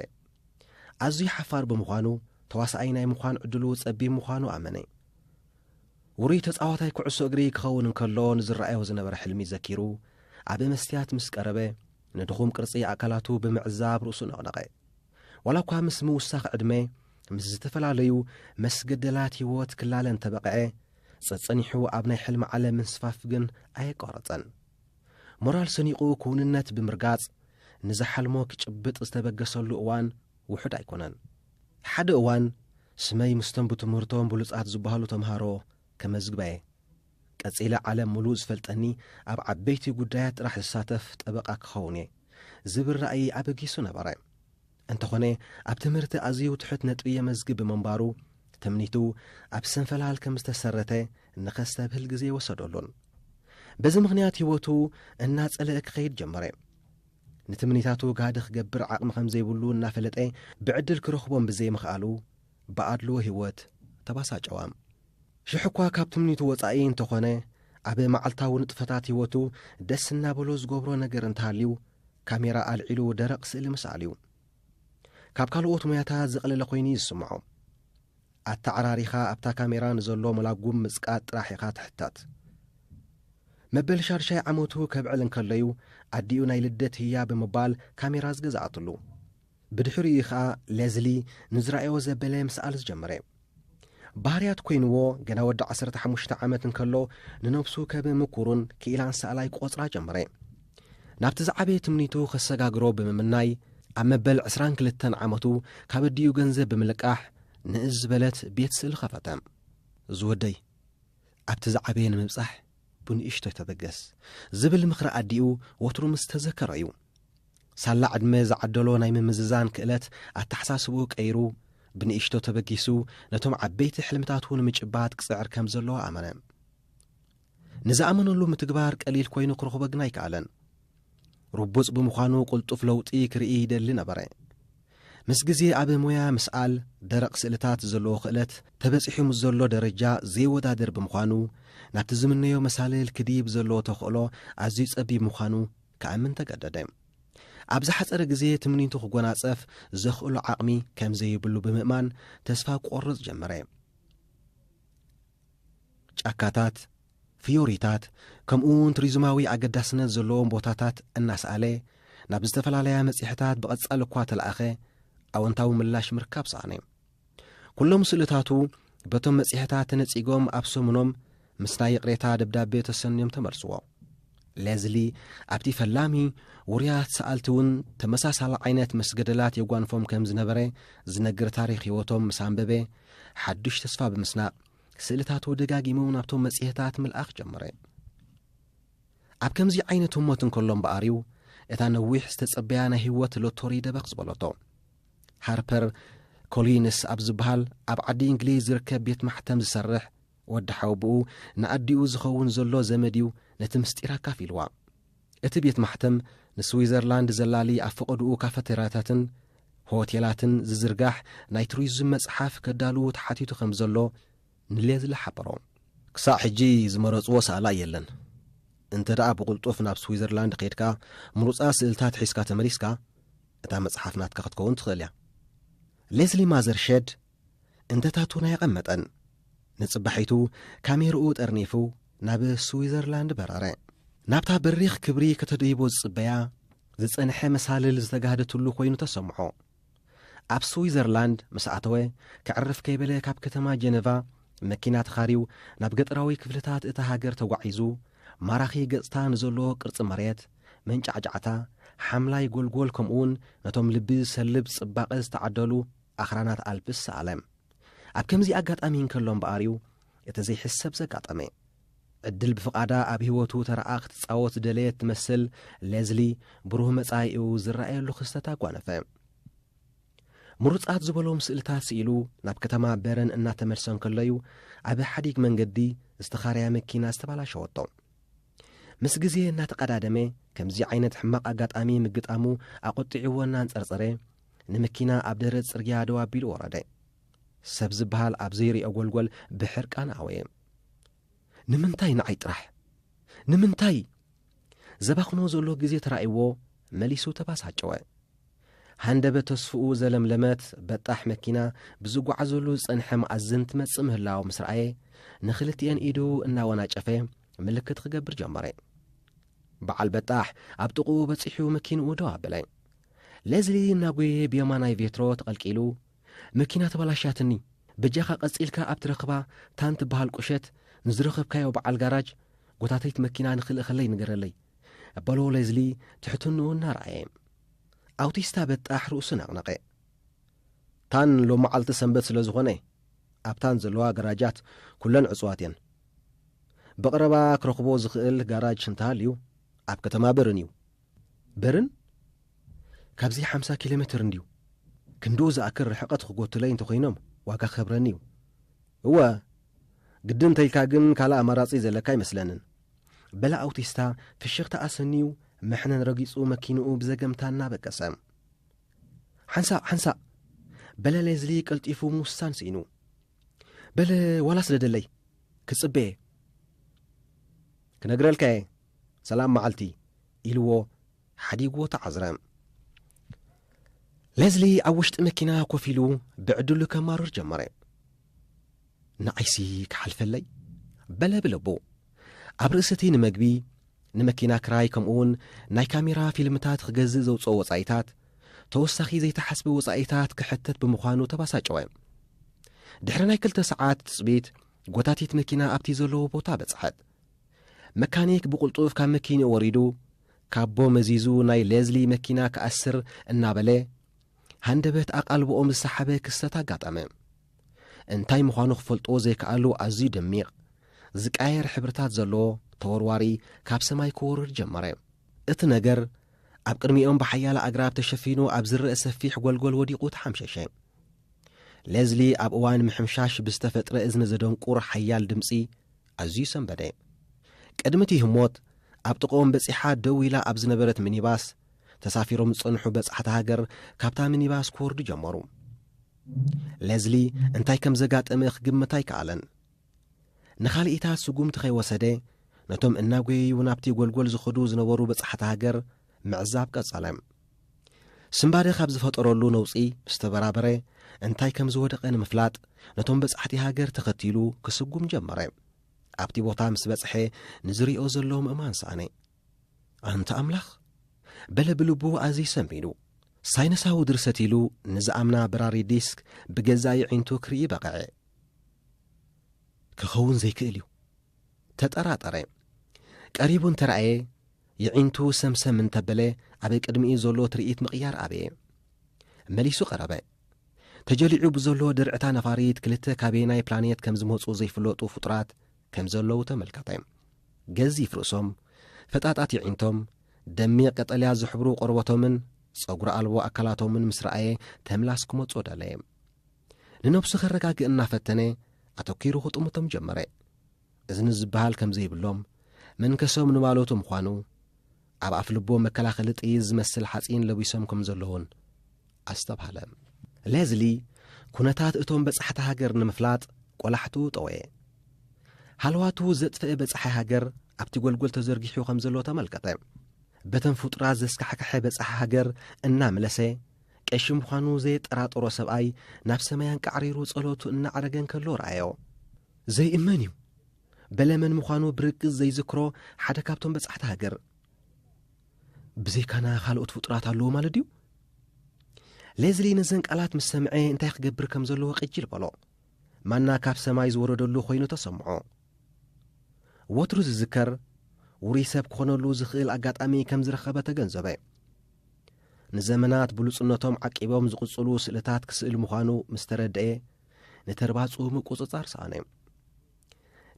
ኣዝዩ ሓፋር ብምዃኑ ተዋሳኣይ ናይ ምዃን ዕድሉ ጸቢብ ምዃኑ ኣመነ። ውሩይ ተጻዋታይ ኩዕሶ እግሪ ክኸውን እንከሎ ንዝረኣዮ ዝነበረ ሕልሚ ዘኪሩ ኣብ መስትያት ምስ ቀረበ ንድኹም ቅርጺ ኣካላቱ ብምዕዛብ ርእሱ ነቕነቐ። ዋላ እኳ ምስ ምውሳኽ ዕድመ ምስ ዝተፈላለዩ መስገደላት ህይወት ክላለ እንተበቐዐ ጸጸኒሑ ኣብ ናይ ሕልሚ ዓለም ምንስፋፍ ግን ኣየቋረጸን። ሞራል ሰኒቑ ክውንነት ብምርጋጽ ንዝሓልሞ ክጭብጥ ዝተበገሰሉ እዋን ውሑድ ኣይኮነን። ሓደ እዋን ስመይ ምስቶም ብትምህርቶም ብሉጻት ዝበሃሉ ተምሃሮ ከመዝግባ'የ። ቀጺለ ዓለም ምሉእ ዝፈልጠኒ ኣብ ዓበይቲ ጉዳያት ጥራሕ ዝሳተፍ ጠበቓ ክኸውን'የ ዝብል ራእይ ኣበጊሱ ነበረ። እንተኾነ ኣብ ትምህርቲ ኣዝዩ ትሑት ነጥቢ የመዝግብ ብምንባሩ ትምኒቱ ኣብ ስንፈላል ከም ዝተሰረተ ንኸስተብህል ግዜ ወሰደሉን በዚ ምኽንያት ህይወቱ እናጸለአ ክኸይድ ጀመረ። ንትምኒታቱ ጋህዲ ክገብር ዓቕሚ ከም ዘይብሉ እናፈለጠ ብዕድል ክረኽቦም ብዘይምኽኣሉ ብኣድልዎ ህይወት ተባሳጨዋም። ሽሕ እኳ ካብ ትምኒቱ ወጻኢ እንተኾነ ኣብ መዓልታዊ ንጥፈታት ህይወቱ ደስ እናበሎ ዝገብሮ ነገር እንተሃልዩ ካሜራ ኣልዒሉ ደረቕ ስእሊ ምስኣል እዩ። ካብ ካልኦት ሞያታት ዝቐለለ ኮይኑ እዩ ዝስምዖ። ኣተዓራሪኻ ኣብታ ካሜራ ንዘሎ መላጉም ምጽቃጥ ጥራሕ ኢኻ ትሕተት። መበል ሻድሻይ ዓመቱ ከብዕል እንከሎዩ ኣዲኡ ናይ ልደት ህያ ብምባል ካሜራ ዝገዝኣትሉ። ብድሕሪኡ እዩ ኸኣ ለዝሊ ንዝረኣዮ ዘበለ ምስኣል ዝጀመረ። ባህርያት ኮይንዎ ገና ወዲ ዓሰርተ ሓሙሽተ ዓመት እንከሎ ንነብሱ ከብ ምኩሩን ክኢላን ሰኣላይ ክቖጽራ ጀመረ። ናብቲ ዝዓበየ ትምኒቱ ከሰጋግሮ ብምምናይ ኣብ መበል ዕስራን ክልተን ዓመቱ ካብ ኣዲኡ ገንዘብ ብምልቃሕ ንእስ ዝበለት ቤት ስእሊ ኸፈተ። ዝወደይ ኣብቲ ዝዓበየ ንምብጻሕ ብንእሽቶይ ተበገስ ዝብል ምኽሪ ኣዲኡ ወትሩ ምስ ተዘከሮ እዩ ሳላ ዕድመ ዝዓደሎ ናይ ምምዝዛን ክእለት ኣተሓሳስባኡ ቀይሩ፣ ብንእሽቶ ተበጊሱ ነቶም ዓበይቲ ሕልምታቱ ንምጭባጥ ክጽዕር ከም ዘለዎ ኣመነ። ንዝኣመነሉ ምትግባር ቀሊል ኮይኑ ክረኽቦ ግን ኣይከኣለን። ርቡጽ ብምዃኑ ቅልጡፍ ለውጢ ክርኢ ይደሊ ነበረ። ምስ ግዜ ኣብ ሞያ ምስኣል ደረቕ ስእልታት ዘለዎ ክእለት ተበጺሑ ምስ ዘሎ ደረጃ ዘይወዳደር ብምዃኑ ናብቲ ዝምነዮ መሳልል ክድይብ ዘለዎ ተኽእሎ ኣዝዩ ጸቢብ ምዃኑ ከእምን ተገደደ። ኣብ ዝሓጸረ ግዜ ትምኒቱ ክጎናጸፍ ዘኽእሎ ዓቕሚ ከም ዘይብሉ ብምእማን ተስፋ ክቆርጽ ጀመረ። ጫካታት፣ ፍዮሪታት፣ ከምኡውን ቱሪዝማዊ ኣገዳስነት ዘለዎም ቦታታት እናሰኣለ ናብ ዝተፈላለያ መጽሔታት ብቐጻሊ እኳ ተለኣኸ ኣወንታዊ ምላሽ ምርካብ ሰኣነ። ኩሎም ስእልታቱ በቶም መጽሔታት ተነጺጎም ኣብ ሰሙኖም ምስ ናይ ይቕሬታ ደብዳቤ ተሰንዮም ተመልስዎ። ሌዝሊ ኣብቲ ፈላሚ ውሩያት ሰኣልቲ እውን ተመሳሳሊ ዓይነት ምስ ገደላት የጓንፎም ከም ዝነበረ ዝነግር ታሪኽ ህይወቶም ምስ ኣንበበ ሓዱሽ ተስፋ ብምስናቕ ስእልታቱ ደጋጊሙ ናብቶም መጽሔታት ምልኣኽ ጀመረ። ኣብ ከምዚ ዓይነት ህሞት እንከሎ እምበኣር እዩ እታ ነዊሕ ዝተጸበያ ናይ ህይወት ሎቶሪ ደበኽ ዝበለቶ። ሃርፐር ኮሊንስ ኣብ ዝበሃል ኣብ ዓዲ እንግሊዝ ዝርከብ ቤት ማሕተም ዝሰርሕ ወዲ ሓወብኡ ንኣዲኡ ዝኸውን ዘሎ ዘመድ እዩ ነቲ ምስጢር ኣካፊልዋ። እቲ ቤት ማሕተም ንስዊዘርላንድ ዘላሊ ኣብ ፈቐድኡ ካፈቴርያታትን ሆቴላትን ዝዝርጋሕ ናይ ቱሪዝም መጽሓፍ ከዳልዉ ተሓቲቱ ከም ዘሎ ንሌዝሊ ሓበሮ። ክሳዕ ሕጂ ዝመረጽዎ ሰኣላይ የለን። እንተደኣ ብቕልጡፍ ናብ ስዊዘርላንድ ከይድካ ምሩጻት ስእልታት ሒዝካ ተመሊስካ፣ እታ መጽሓፍ ናትካ ክትከውን ትኽእል እያ። ሌስሊ ማዘርሸድ እንተታቱን ኣየቐመጠን። ንጽባሒቱ ካሜርኡ ጠርኒፉ ናብ ስዊዘርላንድ በረረ። ናብታ በሪኽ ክብሪ ከተደይቦ ዝጽበያ ዝጸንሐ መሳልል ዝተጋህደትሉ ኮይኑ ተሰምዖ። ኣብ ስዊዘርላንድ ምስ ኣተወ ከዕርፍ ከይበለ ካብ ከተማ ጀነቫ መኪና ተኻርዩ ናብ ገጠራዊ ክፍልታት እታ ሃገር ተጓዒዙ ማራኺ ገጽታ ንዘለዎ ቅርጺ መሬት መንጫዕጫዕታ፣ ሓምላይ ጐልጐል ከምኡውን ነቶም ልቢ ዝሰልብ ጽባቐ ዝተዓደሉ ኣኽራናት ኣልፕስ ሰኣለ። ኣብ ከምዚ ኣጋጣሚ እንከሎ እምበኣር'ዩ እቲ ዘይሕሰብ ዘጋጠመ። ዕድል ብፍቓዳ ኣብ ህይወቱ ተራኣ ክትጻወት ዝደለየት ትመስል ሌዝሊ ብሩህ መጻኢኡ ዝረኣየሉ ክስተት ኣጓነፈ። ምሩጻት ዝበሎም ስእልታት ስኢሉ ናብ ከተማ በረን እናተመልሰ እንከሎ'ዩ ኣብ ሓዲግ መንገዲ ዝተኻረያ መኪና ዝተባላሸወቶ። ምስ ግዜ እናተቐዳደመ ከምዚ ዓይነት ሕማቕ ኣጋጣሚ ምግጣሙ ኣቖጢዕዎ እናንጸርጸረ ንምኪና ኣብ ደረት ጽርግያ ደው ኣቢሉ ወረደ። ሰብ ዝበሃል ኣብ ዘይርኦ ጎልጎል ብሕርቃን ኣወየ። ንምንታይ ንዓይ ጥራሕ? ንምንታይ? ዘባኽኖ ዘሎ ግዜ ተራእይዎ መሊሱ ተባሳጨወ። ሃንደበት ተስፍኡ ዘለምለመት በጣሕ መኪና ብዝጓዓዘሉ ዝጸንሐ መኣዝን ትመጽእ ምህላው ምስ ረኣየ ንኽልቲኤን ኢዱ እናወናጨፈ ምልክት ክገብር ጀመረ። በዓል በጣሕ ኣብ ጥቕኡ በጺሑ መኪንኡ ደው ኣበለ። ሌዝሊ እናጎየ ብየማናይ ቬትሮ ተቐልቂሉ መኪና ተበላሽያትኒ በጃኻ ቀጺልካ ኣብ ትረኽባ ታን ትበሃል ቁሸት ንዝረኸብካዮ በዓል ጋራጅ ጎታተይት መኪና ንኽልእኸለይ ንገረለይ በሎ ሌዝሊ ትሕትንኡ እናረኣየ ኣውቲስታ በጣሕ ርእሱ ነቕነቐ። ታን ሎምዓልቲ ሰንበት ስለ ዝኾነ ኣብታን ዘለዋ ገራጃት ኩለን ዕጹዋት እየን። ብቐረባ ክረኽቦ ዝኽእል ጋራጅ እንተሃልዩ ኣብ ከተማ በርን እዩ። በርን? ካብዚ ሓምሳ ኪሎ ሜትር እንድዩ። ክንድኡ ዝኣክል ርሕቐት ክጎቱለይ እንተኾይኖም ዋጋ ክከብረኒ እዩ። እወ፣ ግድን እንተኢልካ ግን ካልእ ኣማራጺ ዘለካ ኣይመስለንን። በለ ኣውቲስታ ፍሽኽታ ኣሰንዩ መሕነን ረጊጹ መኪንኡ ብዘገምታ እናበገሰ። ሓንሳእ ሓንሳእ በለ ሌዝሊ ቀልጢፉ ምውሳን ስኢኑ። በለ ዋላ ስደደለይ ክጽበየ። ክነግረልካየ ሰላም መዓልቲ ኢልዎ ሓዲግዎ ተዓዝረ። ሌዝሊ ኣብ ውሽጢ መኪና ኮፍ ኢሉ ብዕድሉ ከማርር ጀመረ። ንዓይሲ ክሓልፈለይ በለ ብልቡ። ኣብ ርእሲ እቲ ንመግቢ ንመኪና ክራይ ከምኡውን ናይ ካሜራ ፊልምታት ክገዝእ ዘውፅኦ ወፃኢታት ተወሳኺ ዘይተሓስበ ወፃኢታት ክሕተት ብምዃኑ ተባሳጨወ። ድሕሪ ናይ ክልተ ሰዓት ትፅቢት ጎታቲት መኪና ኣብቲ ዘለዎ ቦታ በፅሐት። መካኒክ ብቕልጡፍ ካብ መኪንኡ ወሪዱ ካቦ መዚዙ ናይ ሌዝሊ መኪና ክኣስር እናበለ ሃንደበት ኣቓልቦኦም ዝሰሓበ ክስተት ኣጋጠመ። እንታይ ምዃኑ ክፈልጥዎ ዘይከኣሉ ኣዝዩ ደሚቕ፣ ዝቀያየር ሕብርታት ዘለዎ ተወርዋሪ ካብ ሰማይ ክወርድ ጀመረ። እቲ ነገር ኣብ ቅድሚኦም ብሓያለ ኣግራብ ተሸፊኑ ኣብ ዝረእ ሰፊሕ ጐልጐል ወዲቑ ተሓምሸሸ። ሌዝሊ ኣብ እዋን ምሕምሻሽ ብዝተፈጥረ እዝኒ ዘደንቁር ሓያል ድምጺ ኣዝዩ ሰንበደ። ቅድሚ እቲ ህሞት፣ ኣብ ጥቕኦም በጺሓ ደው ኢላ ኣብ ዝነበረት ሚኒባስ፣ ተሳፊሮም ዝጸንሑ በጻሕቲ ሃገር ካብታ ሚኒባስ ክወርዱ ጀመሩ። ለዝሊ እንታይ ከም ዘጋጠመ ክግምት ኣይከኣለን። ንኻልኢታት ስጉምቲ ከይወሰደ፣ ነቶም እናጐየዩ ናብቲ ጐልጐል ዝኸዱ ዝነበሩ በጻሕቲ ሃገር፣ ምዕዛብ ቀጸለ። ስንባደ ካብ ዝፈጠረሉ ነውጺ ምስ ተበራበረ፣ እንታይ ከም ዝወደቐ ንምፍላጥ ነቶም በጻሕቲ ሃገር ተኸቲሉ ክስጉም ጀመረ። ኣብቲ ቦታ ምስ በጽሐ ንዝሪኦ ዘሎ ምእማን ሰኣነ። ኣንታ ኣምላኽ! በለ ብልቡ ኣዝዩ ሰንቢዱ። ሳይነሳዊ ድርሰት ኢሉ ንዝኣምና በራሪ ዲስክ ብገዛእ የዒንቱ ክርኢ በቐዐ። ክኸውን ዘይክእል እዩ። ተጠራጠረ። ቀሪቡ እንተ ረኣየ፣ የዒንቱ ሰምሰም እንተ በለ፣ ኣብ ቅድሚኡ ዘሎ ትርኢት ምቕያር ኣበየ። መሊሱ ቀረበ። ተጀሊዑ ብዘሎ ድርዕታ ነፋሪት ክልተ ካበየናይ ፕላኔት ከም ዝመጹ ዘይፍለጡ ፍጡራት ከም ዘለዉ ተመልከተ። ገዚፍ ርእሶም፣ ፈጣጣት የዒንቶም፣ ደሚቕ ቀጠልያ ዝሕብሩ ቆርበቶምን ጸጉሪ ኣልቦ ኣካላቶምን ምስ ረኣየ ተምላስ ክመጾ ደለየ። ንነብሱ ከረጋግእ እናፈተነ ኣተኲሩ ክጥምቶም ጀመረ። እዝኒ ዝበሃል ከም ዘይብሎም፣ መንከሶም ንማለቱ ምዃኑ፣ ኣብ ኣፍ ልቦም መከላኸሊ ጥይት ዝመስል ሓጺን ለቢሶም ከም ዘለዉን ኣስተብሃለ። ሌዝሊ ኩነታት እቶም በጻሕቲ ሃገር ንምፍላጥ ቆላሕትኡ ጠወየ። ሃለዋቱ ዘጥፈኤ በጻሒ ሃገር ኣብቲ ጎልጎል ተዘርጊሑ ከም ዘሎ ተመልከተ። በተን ፍጡራት ዘስካሕከሐ በጻሒ ሃገር እናምለሰ ቀሺ ምዃኑ ዘየጠራጠሮ ሰብኣይ ናብ ሰማይ ኣንቃዕሪሩ ጸሎቱ እናዕረገ እንከሎ ረኣዮ። ዘይእመን እዩ! በለ መን ምዃኑ ብርግጽ ዘይዝክሮ ሓደ ካብቶም በጻሕቲ ሃገር። ብዘይካና ካልኦት ፍጡራት ኣለዉ ማለት ድዩ? ሌዝሊ ነዘን ቃላት ምስ ሰምዐ እንታይ ክገብር ከም ዘለዎ ቅጅል በሎ። ማና ካብ ሰማይ ዝወረደሉ ኮይኑ ተሰምዖ። ወትሩ ዝዝከር ውሩይ ሰብ ክኾነሉ ዝኽእል ኣጋጣሚ ከም ዝረኸበ ተገንዘበ። ንዘመናት ብሉጽነቶም ዓቂቦም ዝቕጽሉ ስእልታት ክስእል ምዃኑ ምስ ተረድኤ፣ ንተርባጽኡ ምቁጽጻር ሰኣነ።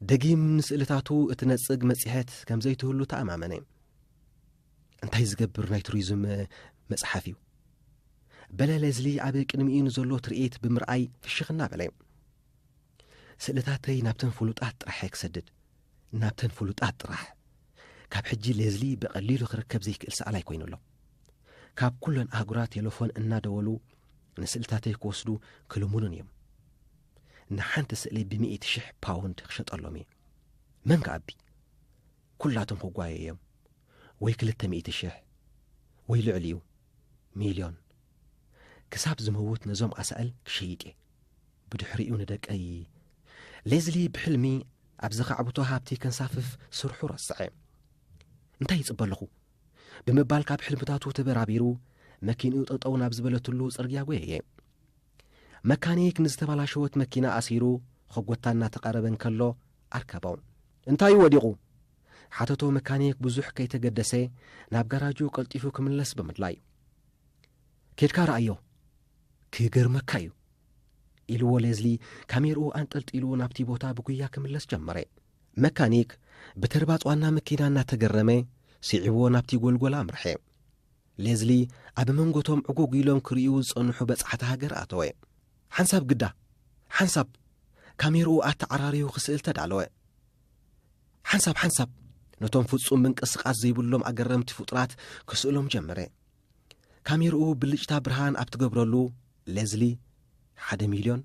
ደጊም ንስእልታቱ እትነጽግ መጽሔት ከም ዘይትህሉ ተኣማመነ። እንታይ ዝገብር ናይ ቱሪዝም መጽሓፍ እዩ? በለ ሌዝሊ ኣብ ቅድሚኡ ንዘሎ ትርኢት ብምርኣይ ፍሽኽ እናበለ። ስእልታተይ ናብተን ፍሉጣት ጥራሕ እየ ክሰድድ፣ ናብተን ፍሉጣት ጥራሕ። ካብ ሕጂ ሌዝሊ ብቐሊሉ ክርከብ ዘይክእል ሰኣላይ ኮይኑ ኣሎ። ካብ ኩለን ኣህጉራት ቴለፎን እናደወሉ ንስእልታተይ ክወስዱ ክልሙኑን እዮም። ንሓንቲ ስእሊ ብሚእቲ ሽሕ ፓውንድ ክሸጠሎም እየ። መን ክኣቢ? ኩላቶም ክጓየ እዮም። ወይ ክልተ ሚእቲ ሽሕ ወይ ልዕሊኡ ሚልዮን። ክሳብ ዝመውት ነዞም ኣሳእል ክሸይጥ እየ። ብድሕሪኡ ንደቀይ ሌዝሊ ብሕልሚ ኣብ ዘኻዕብቶ ሃብቲ ከንሳፍፍ ስርሑ ረስዐ። እንታይ ይጽበ ኣለኹ? ብምባል ካብ ሕልምታቱ ተበራቢሩ መኪንኡ ጠጠው ናብ ዝበለትሉ ጽርግያ ጎየየ። መካኒክ ንዝተባላሸወት መኪና ኣሲሩ ኸጎታ እናተቐረበ እንከሎ ኣርከቦ። እንታይ እዩ ወዲቑ? ሓተቶ መካኒክ ብዙሕ ከይተገደሰ ናብ ጋራጁ ቀልጢፉ ክምለስ ብምድላይ። ኬድካ ረኣዮ ክገርመካ እዩ ኢልዎ ሌዝሊ ካሜርኡ ኣንጠልጢሉ ናብቲ ቦታ ብጉያ ክምለስ ጀመረ መካኒክ ብተርባጽ ዋና መኪና እናተገረመ ስዒብዎ ናብቲ ጎልጎል ኣምርሐ ሌዝሊ ኣብ መንጎቶም ዕጉግ ኢሎም ክርእዩ ዝጸንሑ በጻሕቲ ሃገር ኣተወ ሓንሳብ ግዳ ሓንሳብ ካሜርኡ ኣተዓራርዩ ክስእል ተዳለወ ሓንሳብ ሓንሳብ ነቶም ፍጹም ምንቅስቓስ ዘይብሎም ኣገረምቲ ፍጡራት ክስእሎም ጀመረ ካሜርኡ ብልጭታ ብርሃን ኣብ ትገብረሉ ሌዝሊ ሓደ ሚልዮን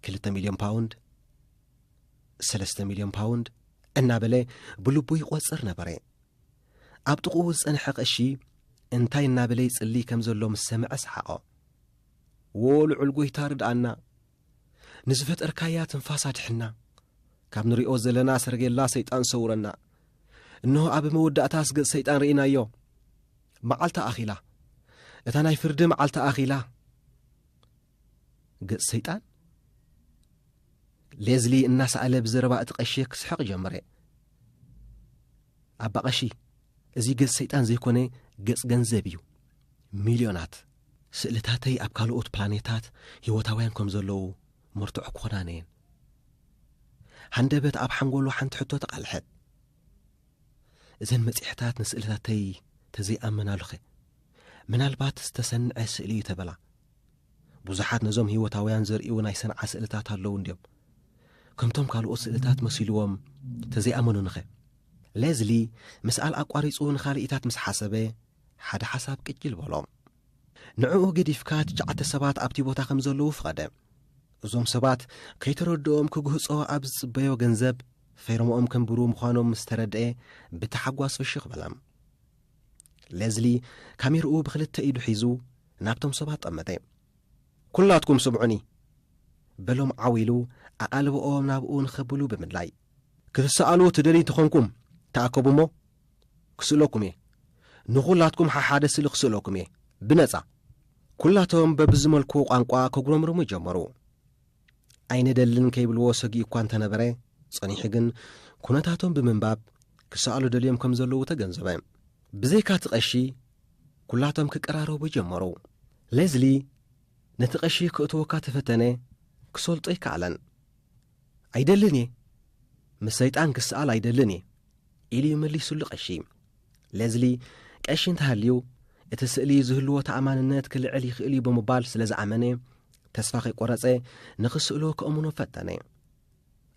ክልተ ሚልዮን ፓውንድ ሰለስተ ሚልዮን ፓውንድ እናበለ ብልቡ ይቖጽር ነበረ ኣብ ጥቕኡ ዝጸንሐ ቐሺ እንታይ እናበለ ይጽሊ ከም ዘሎ ምስ ሰምዐ ሰሓቖ ወልዑል ጎይታ ርድኣና ንዝፈጠርካያ ትንፋስ ኣድሕና ካብ ንሪኦ ዘለና ሰረጌላ ሰይጣን ሰውረና እንሆ ኣብ መወዳእታ ስገፅ ሰይጣን ርኢናዮ መዓልቲ ኣኺላ እታ ናይ ፍርዲ መዓልቲ ኣኺላ ገፅ ሰይጣን ሌዝሊ እናሰኣለ ብዘረባ እቲ ቀሺ ክስሕቕ ጀመረ ኣባ ቐሺ እዚ ገፅ ሰይጣን ዘይኮነ ገፅ ገንዘብ እዩ ሚልዮናት ስእልታተይ ኣብ ካልኦት ፕላኔታት ህይወታውያን ከም ዘለዉ መርትዖ ክኾናኒ እየን። ሃንደበት ኣብ ሓንጎሉ ሓንቲ ሕቶ ተቓልሐት። እዘን መጺሕታት ንስእልታተይ ተዘይኣመናሉኸ ምናልባት ዝተሰንዐ ስእሊ እዩ ተበላ። ብዙሓት ነዞም ህይወታውያን ዘርእዩ ናይ ሰንዓ ስእልታት ኣለዉ እንድዮም። ከምቶም ካልኦት ስእልታት መሲልዎም ተዘይኣመኑኒኸ? ሌዝሊ ምስኣል ኣቋሪጹ ንኻልኢታት ምስ ሓሰበ፣ ሓደ ሓሳብ ቅጅል በሎ። ንዕኡ ገዲፍካ ትሽዓተ ሰባት ኣብቲ ቦታ ከም ዘለዉ ፍቐደ። እዞም ሰባት ከይተረድኦም ክግህጾ ኣብ ዝጽበዮ ገንዘብ ፌርምኦም ከንብሩ ምዃኖም ምስ ተረድኤ ብታሓጓስ ፍሽኽ በለ። ሌዝሊ ካሜርኡ ብኽልተ ኢዱ ሒዙ ናብቶም ሰባት ጠመተ። ኩላትኩም ስምዑኒ! በሎም ዓው ኢሉ ኣቓልብኦም ናብኡ ንኸብሉ ብምድላይ። ክትሰኣሉ ትደልዩ እንተኾንኩም ተኣከቡ እሞ ክስእለኩም እየ ንኹላትኩም ሓሓደ ስእሊ ክስእለኩም እየ ብነጻ ኩላቶም በብዝመልክዎ ቋንቋ ከጉረምርሙ ጀመሩ ኣይነደልን ከይብልዎ ሰጊኡ እኳ እንተነበረ ጸኒሑ ግን ኩነታቶም ብምንባብ ክሰኣሉ ደልዮም ከም ዘለዉ ተገንዘበ ብዘይካ እቲ ቀሺ ኩላቶም ክቀራረቡ ጀመሩ ሌዝሊ ነቲ ቀሺ ክእትወካ ተፈተነ ክሰልጦ ኣይከኣለን ኣይደልን እየ፣ ምስ ሰይጣን ክሰኣል ኣይደልን እየ፣ ኢሉ እዩ መሊሱሉ ቀሺ። ሌዝሊ፣ ቀሺ እንተሃልዩ፣ እቲ ስእሊ ዝህልዎ ተኣማንነት ክልዕል ይኽእል እዩ ብምባል ስለ ዝኣመነ፣ ተስፋ ከይቈረጸ ንኽስእሎ ከእምኖ ፈተነ።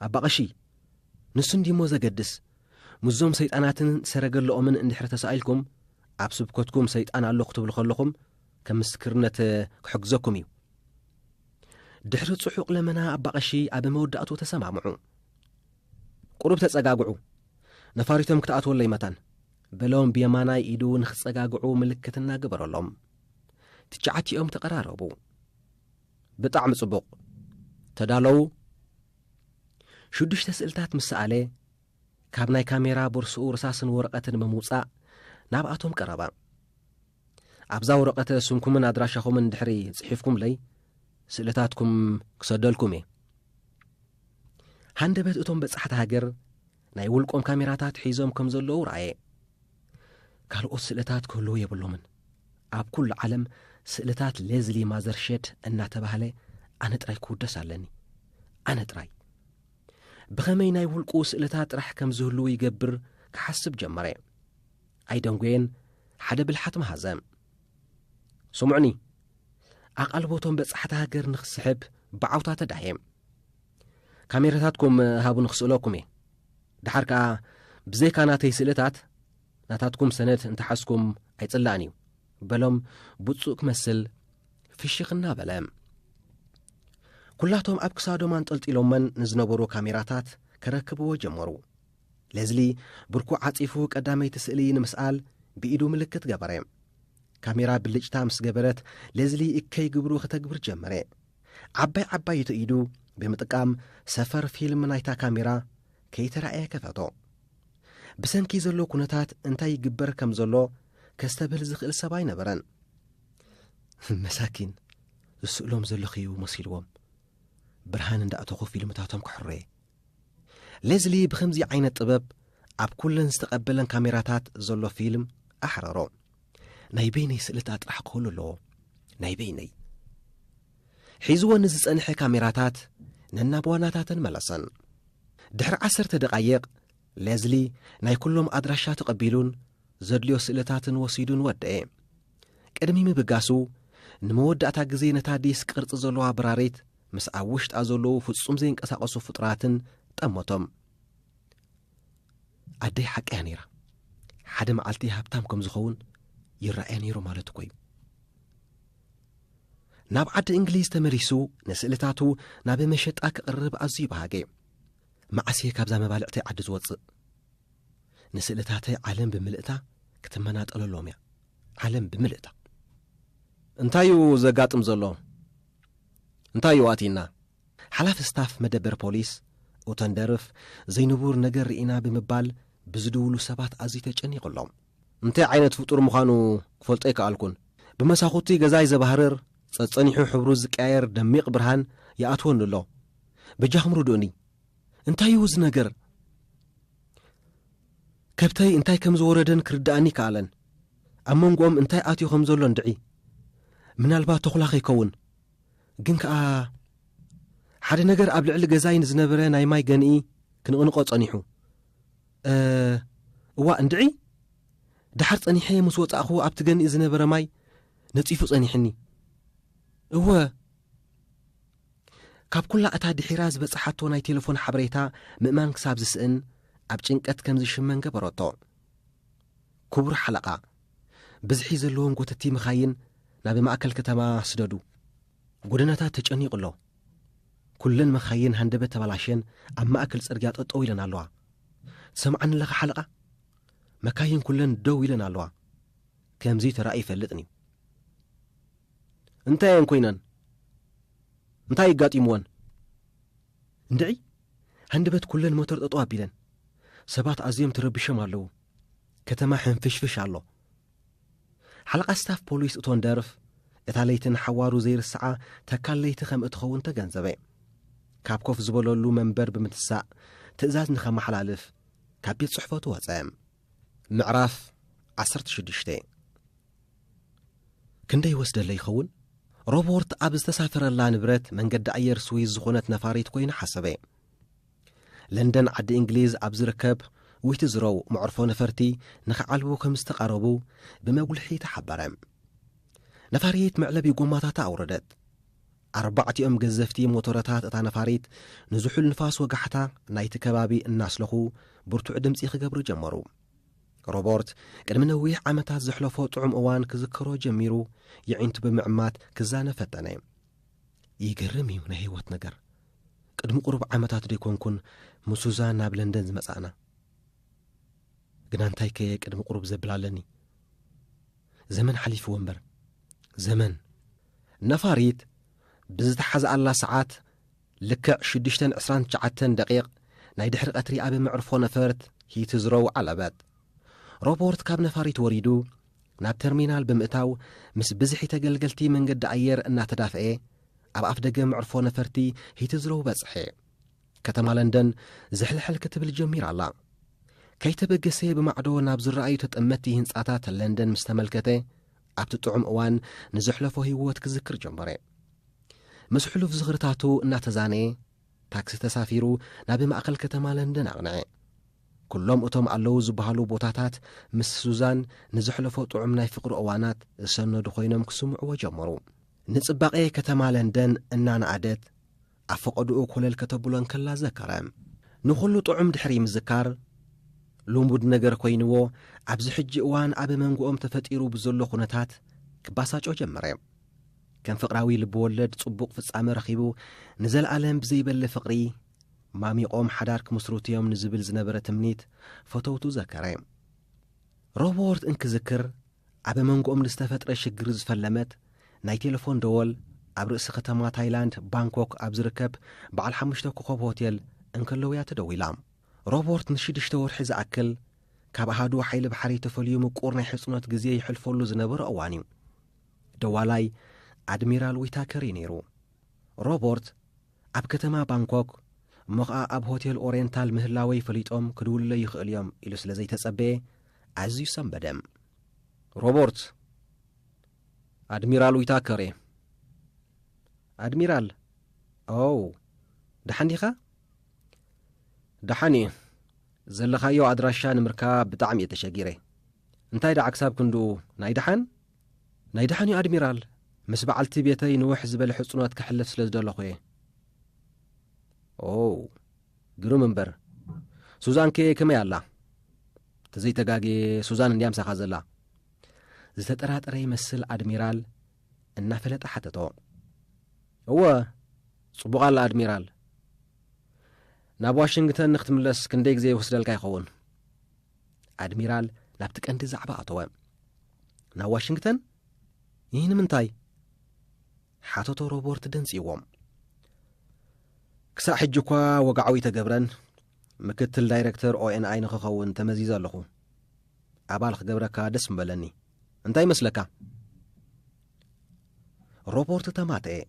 ኣባ ቀሺ፣ ንሱ እንድዩሞ ዘገድስ፣ ምስዞም ሰይጣናትን ሰረገለኦምን እንድሕሪ ተሳኢልኩም፣ ኣብ ስብከትኩም ሰይጣን ኣሎ ክትብሉ ከለኹም፣ ከም ምስክርነት ክሕግዘኩም እዩ። ድሕሪ ጽሑቕ ለመና ኣባ ቐሺ ኣብ መወዳእቱ ተሰማምዑ። ቁሩብ ተጸጋግዑ፣ ነፋሪቶም ክትኣትወለይ መታን በሎም ብየማናይ ኢዱ ንኽጸጋግዑ ምልክት እናገበረሎም። ትሽዓቲኦም ተቐራረቡ። ብጣዕሚ ጽቡቕ ተዳለዉ። ሽዱሽተ ስእልታት ምስ ሰኣለ ካብ ናይ ካሜራ ቦርስኡ ርሳስን ወረቐትን ብምውጻእ ናብኣቶም ቀረባ። ኣብዛ ወረቐተ ስምኩምን ኣድራሻኹምን ድሕሪ ጽሒፍኩምለይ ስእልታትኩም ክሰደልኩም እየ። ሃንደበት እቶም በጻሕቲ ሃገር ናይ ውልቆም ካሜራታት ሒዞም ከም ዘለዉ ረኣየ። ካልኦት ስእልታት ክህልዉ የብሎምን። ኣብ ኩሉ ዓለም ስእልታት ሌዝሊ ማዘርሸድ እናተባህለ ኣነ ጥራይ ክውደስ ኣለኒ ኣነ ጥራይ ብኸመይ ናይ ውልቁ ስእልታት ጥራሕ ከም ዝህልዉ ይገብር ክሓስብ ጀመረ ኣይደንጐየን፣ ሓደ ብልሓት መሃዘ። ስምዑኒ፣ ኣቓልቦ እቶም በጻሕቲ ሃገር ንኽስሕብ ብዓውታ ተዳህየ። ካሜራታትኩም ሃቡኒ ክስእለኩም እየ። ድሓር ከኣ ብዘይካ ናተይ ስእልታት ናታትኩም ሰነድ እንተሓዝኩም ኣይጽላእን እዩ በሎም ብፁእ ክመስል ፍሽኽ እናበለ ኵላቶም ኣብ ክሳዶም ኣንጠልጢሎመን ንዝነበሩ ካሜራታት ከረክብዎ ጀመሩ ሌዝሊ ብርኩ ዓጺፉ ቀዳመይቲ ስእሊ ንምስኣል ብኢዱ ምልክት ገበረ። ካሜራ ብልጭታ ምስ ገበረት ሌዝሊ እከይ ግብሩ ከተግብር ጀመረ። ዓባይ ዓባይቱ ኢዱ ብምጥቃም ሰፈር ፊልም ናይታ ካሜራ ከይተራእየ ከፈቶ። ብሰንኪ ዘሎ ኩነታት እንታይ ይግበር ከም ዘሎ ከስተብህል ዝኽእል ሰብ ኣይነበረን። መሳኪን ዝስእሎም ዘለኽዩ መሲልዎም ብርሃን እንዳእተኹ ፊልምታቶም ክሕሮየ ሌዝሊ ብኸምዚ ዓይነት ጥበብ ኣብ ኩለን ዝተቐበለን ካሜራታት ዘሎ ፊልም ኣሕረሮ። ናይ በይነይ ስእልታት ጥራሕ ክህሉ ኣለዎ። ናይ በይነይ። ሒዝዎ ንዝጸንሐ ካሜራታት ነናብ ዋናታተን መለሰን። ድሕሪ ዓሰርተ ደቓይቕ ሌዝሊ ናይ ኩሎም ኣድራሻ ተቐቢሉን ዘድልዮ ስእልታትን ወሲዱን ወደኤ። ቅድሚ ምብጋሱ፣ ንመወዳእታ ግዜ ነታ ዲስ ቅርጺ ዘሎዋ ብራሪት ምስ ኣብ ውሽጣ ዘሎዉ ፍጹም ዘይንቀሳቐሱ ፍጡራትን ጠመቶም። ኣደይ ሓቀያ ነይራ። ሓደ መዓልቲ ሃብታም ከም ዝኸውን ይረኣያ ነይሩ ማለት እኮ እዩ። ናብ ዓዲ እንግሊዝ ተመሊሱ ንስእልታቱ ናብ መሸጣ ክቕርብ ኣዝዩ በሃገ። መዓስ እየ ካብዛ መባልዕተይ ዓዲ ዝወጽእ? ንስእልታተይ ዓለም ብምልእታ ክትመናጠለሎም እያ። ዓለም ብምልእታ። እንታይ እዩ ዘጋጥም ዘሎ? እንታይ እዩ ኣትይና? ሓላፊ ስታፍ መደበር ፖሊስ ኡተንደርፍ ዘይንቡር ነገር ርኢና ብምባል ብዝድውሉ ሰባት ኣዝዩ ተጨኒቑ ኣሎ። እንታይ ዓይነት ፍጡር ምዃኑ ክፈልጦ ኣይከኣልኩን። ብመሳኹቲ ገዛይ ዘባህርር፣ ጸጸኒሑ ሕብሩ ዝቀያየር ደሚቕ ብርሃን ይኣትወኒ ኣሎ። በጃኹም ርድኡኒ። እንታይ እዩ እዚ ነገር? ከብተይ እንታይ ከም ዝወረደን ክርድኣኒ ከኣለን። ኣብ መንጎኦም እንታይ ኣትዩ ከም ዘሎ እንድዒ። ምናልባት ተኹላ ከይከውን። ግን ከኣ ሓደ ነገር ኣብ ልዕሊ ገዛይ ንዝነበረ ናይ ማይ ገንኢ ክንቕንቖ ጸኒሑ። እዋእ እንድዒ! ደሓር ጸኒሐ ምስ ወጻእኹ ኣብቲ ገንኢ ዝነበረ ማይ ነጺፉ ጸኒሑኒ። እወ! ካብ ኩላ እታ ድሒራ ዝበጽሓቶ ናይ ቴለፎን ሓበሬታ ምእማን ክሳብ ዝስእን ኣብ ጭንቀት ከም ዝሽመን ገበረቶ። ክቡር ሓለቓ፣ ብዝሒ ዘለዎም ጎተቲ መኻይን ናብ ማእከል ከተማ ስደዱ። ጎደናታት ተጨኒቑ ኣሎ። ኩለን መኻይን ሃንደበት ተበላሽየን ኣብ ማእከል ጽርግያ ጠጠው ኢለን ኣለዋ። ትሰምዓኒ ኣለኻ ሓለቓ? መካይን ኩለን ደው ኢለን ኣለዋ። ከምዚ ተራእዩ ይፈልጥን'ዩ። እንታይ እየን ኮይነን? እንታይ ይጋጢምወን? እንድዒ ሃንደበት ኩለን ሞተር ጠጦ ኣቢለን ሰባት ኣዝዮም ተረቢሾም ኣለዉ። ከተማ ሕንፍሽፍሽ ኣሎ። ሓለቓ ስታፍ ፖሊስ እቶን ደርፍ፣ እታ ለይቲ ንሓዋሩ ዘይርስዓ ተካል ለይቲ ከም እትኸውን ተገንዘበ። ካብ ኮፍ ዝበለሉ መንበር ብምትሳእ ትእዛዝ ንኸመሓላልፍ ካብ ቤት ጽሕፈቱ ወጸ። ምዕራፍ ዓሰርተ ሽዱሽተ ክንደይ ወስደለ ይኸውን? ሮቦርት ኣብ ዝተሳፈረላ ንብረት መንገዲ ኣየር ስዊዝ ዝኾነት ነፋሪት ኮይኑ ሓሰበ። ለንደን ዓዲ እንግሊዝ ኣብ ዝርከብ ዊትዝሮው መዕርፎ ነፈርቲ ንኽዓልቡ ከም ዝተቓረቡ ብመጉልሒ ተሓበረ። ነፋሪት መዕለቢ ጎማታታ ኣውረደት። ኣርባዕቲኦም ገዘፍቲ ሞቶረታት እታ ነፋሪት ንዝሑል ንፋስ ወጋሕታ ናይቲ ከባቢ እናስለኹ ብርቱዕ ድምፂ ክገብሩ ጀመሩ። ሮበርት ቅድሚ ነዊሕ ዓመታት ዘሕለፎ ጥዑም እዋን ክዝከሮ ጀሚሩ የዒንቱ ብምዕማት ክዛነ ፈተነ። ይገርም እዩ ናይ ህይወት ነገር ቅድሚ ቁሩብ ዓመታት ደይኮንኩን ምሱዛ ናብ ለንደን ዝመጻእና ግና እንታይ ከየ ቅድሚ ቁሩብ ዘብል ኣለኒ ዘመን ሓሊፍዎ እምበር ዘመን ነፋሪት ብዝተሓዝኣላ ሰዓት ልክዕ ሽዱሽተን ዕስራን ትሽዓተን ደቂቕ ናይ ድሕሪ ቀትሪ ኣብ መዕርፎ ነፈርት ሂትዝሮው ዓለበት ሮቦርት ካብ ነፋሪት ወሪዱ ናብ ተርሚናል ብምእታው ምስ ብዝሒ ተገልገልቲ መንገዲ ኣየር እናተዳፍኤ ኣብ ኣፍደገ መዕርፎ ነፈርቲ ሂትዝሮው በጽሐ። ከተማ ለንደን ዝሕልሕል ክትብል ጀሚራ ኣላ። ከይተበገሰ ብማዕዶ ናብ ዝረኣዩ ተጠመቲ ህንጻታት ለንደን ምስ ተመልከተ ኣብቲ ጥዑም እዋን ንዘሕለፎ ህይወት ክዝክር ጀመረ። ምስ ሕሉፍ ዝኽርታቱ እናተዛነየ ታክሲ ተሳፊሩ ናብ ማእከል ከተማ ለንደን ኣቕንዐ። ኩሎም እቶም ኣለዉ ዝበሃሉ ቦታታት ምስ ሱዛን ንዘሕለፎ ጥዑም ናይ ፍቕሪ እዋናት ዝሰነዱ ኮይኖም ክስምዕዎ ጀመሩ። ንጽባቄ ከተማ ለንደን እናነኣደት ኣብ ፈቐድኡ ኮለል ከተብሎ እንከላ ዘከረ። ንኹሉ ጥዑም ድሕሪ ምዝካር፣ ልሙድ ነገር ኮይንዎ ኣብዚ ሕጂ እዋን ኣብ መንጎኦም ተፈጢሩ ብዘሎ ኩነታት ክባሳጮ ጀመረ። ከም ፍቕራዊ ልብወለድ ጽቡቕ ፍጻመ ረኺቡ ንዘለኣለም ብዘይበሊ ፍቕሪ ማሚቖም ሓዳር ክምስርቱ'ዮም ንዝብል ዝነበረ ትምኒት ፈተውቱ ዘከረ። ሮቦርት እንክዝክር ኣብ መንጎኦም ንዝተፈጥረ ሽግር ዝፈለመት ናይ ቴለፎን ደወል ኣብ ርእሲ ከተማ ታይላንድ ባንኮክ ኣብ ዝርከብ በዓል ሓሙሽተ ኮኸብ ሆቴል እንከለውያ ተደዊላ። ሮቦርት ንሽዱሽተ ወርሒ ዝኣክል ካብ ኣሃዱ ሓይሊ ባሕሪ ተፈልዩ ምቁር ናይ ሕጽኖት ግዜ ይሕልፈሉ ዝነበረ እዋን'ዩ። ደዋላይ ኣድሚራል ዊታከር እዩ ነይሩ። ሮቦርት ኣብ ከተማ ባንኮክ እሞ ኸኣ ኣብ ሆቴል ኦሬንታል ምህላወይ ፈሊጦም ክድውሉለይ ይኽእሉ እዮም ኢሉ ስለ ዘይተጸበየ ኣዝዩ ሰምበደ። ሮቦርት፣ ኣድሚራል ዊታከር እየ። ኣድሚራል፣ ኦው፣ ደሓን ዲኻ? ደሓን እየ። ዘለኻዮ ኣድራሻ ንምርካብ ብጣዕሚ እየ ተሸጊረ። እንታይ ደኣ ክሳብ ክንድኡ ናይ ደሓን? ናይ ደሓን'ዩ ኣድሚራል፣ ምስ በዓልቲ ቤተይ ንውሕ ዝበለ ሕጽኖት ከሕልፍ ስለ ዝደለኹ'የ። ኦው፣ ግሩም እምበር። ሱዛንከ ከመይ ኣላ? ተዘይተጋግየ ሱዛን እንድያ ምሳኻ ዘላ። ዝተጠራጠረ ይመስል ኣድሚራል እናፈለጠ ሓተቶ። እወ ጽቡቕ ኣላ ኣድሚራል። ናብ ዋሽንግተን ንክትምለስ ክንደይ ግዜ ይወስደልካ ይኸውን? ኣድሚራል ናብቲ ቀንዲ ዛዕባ ኣተወ ናብ ዋሽንግተን ይህ ንምንታይ ሓተቶ ሮቦርት ደንጽዎም ክሳዕ ሕጂ እኳ ወግዓዊ ተገብረን ምክትል ዳይረክተር ኦኤንኣይ ንክኸውን ተመዚዘ ኣለኹ ኣባል ክገብረካ ደስ ምበለኒ እንታይ ይመስለካ ሮቦርት ተማተየ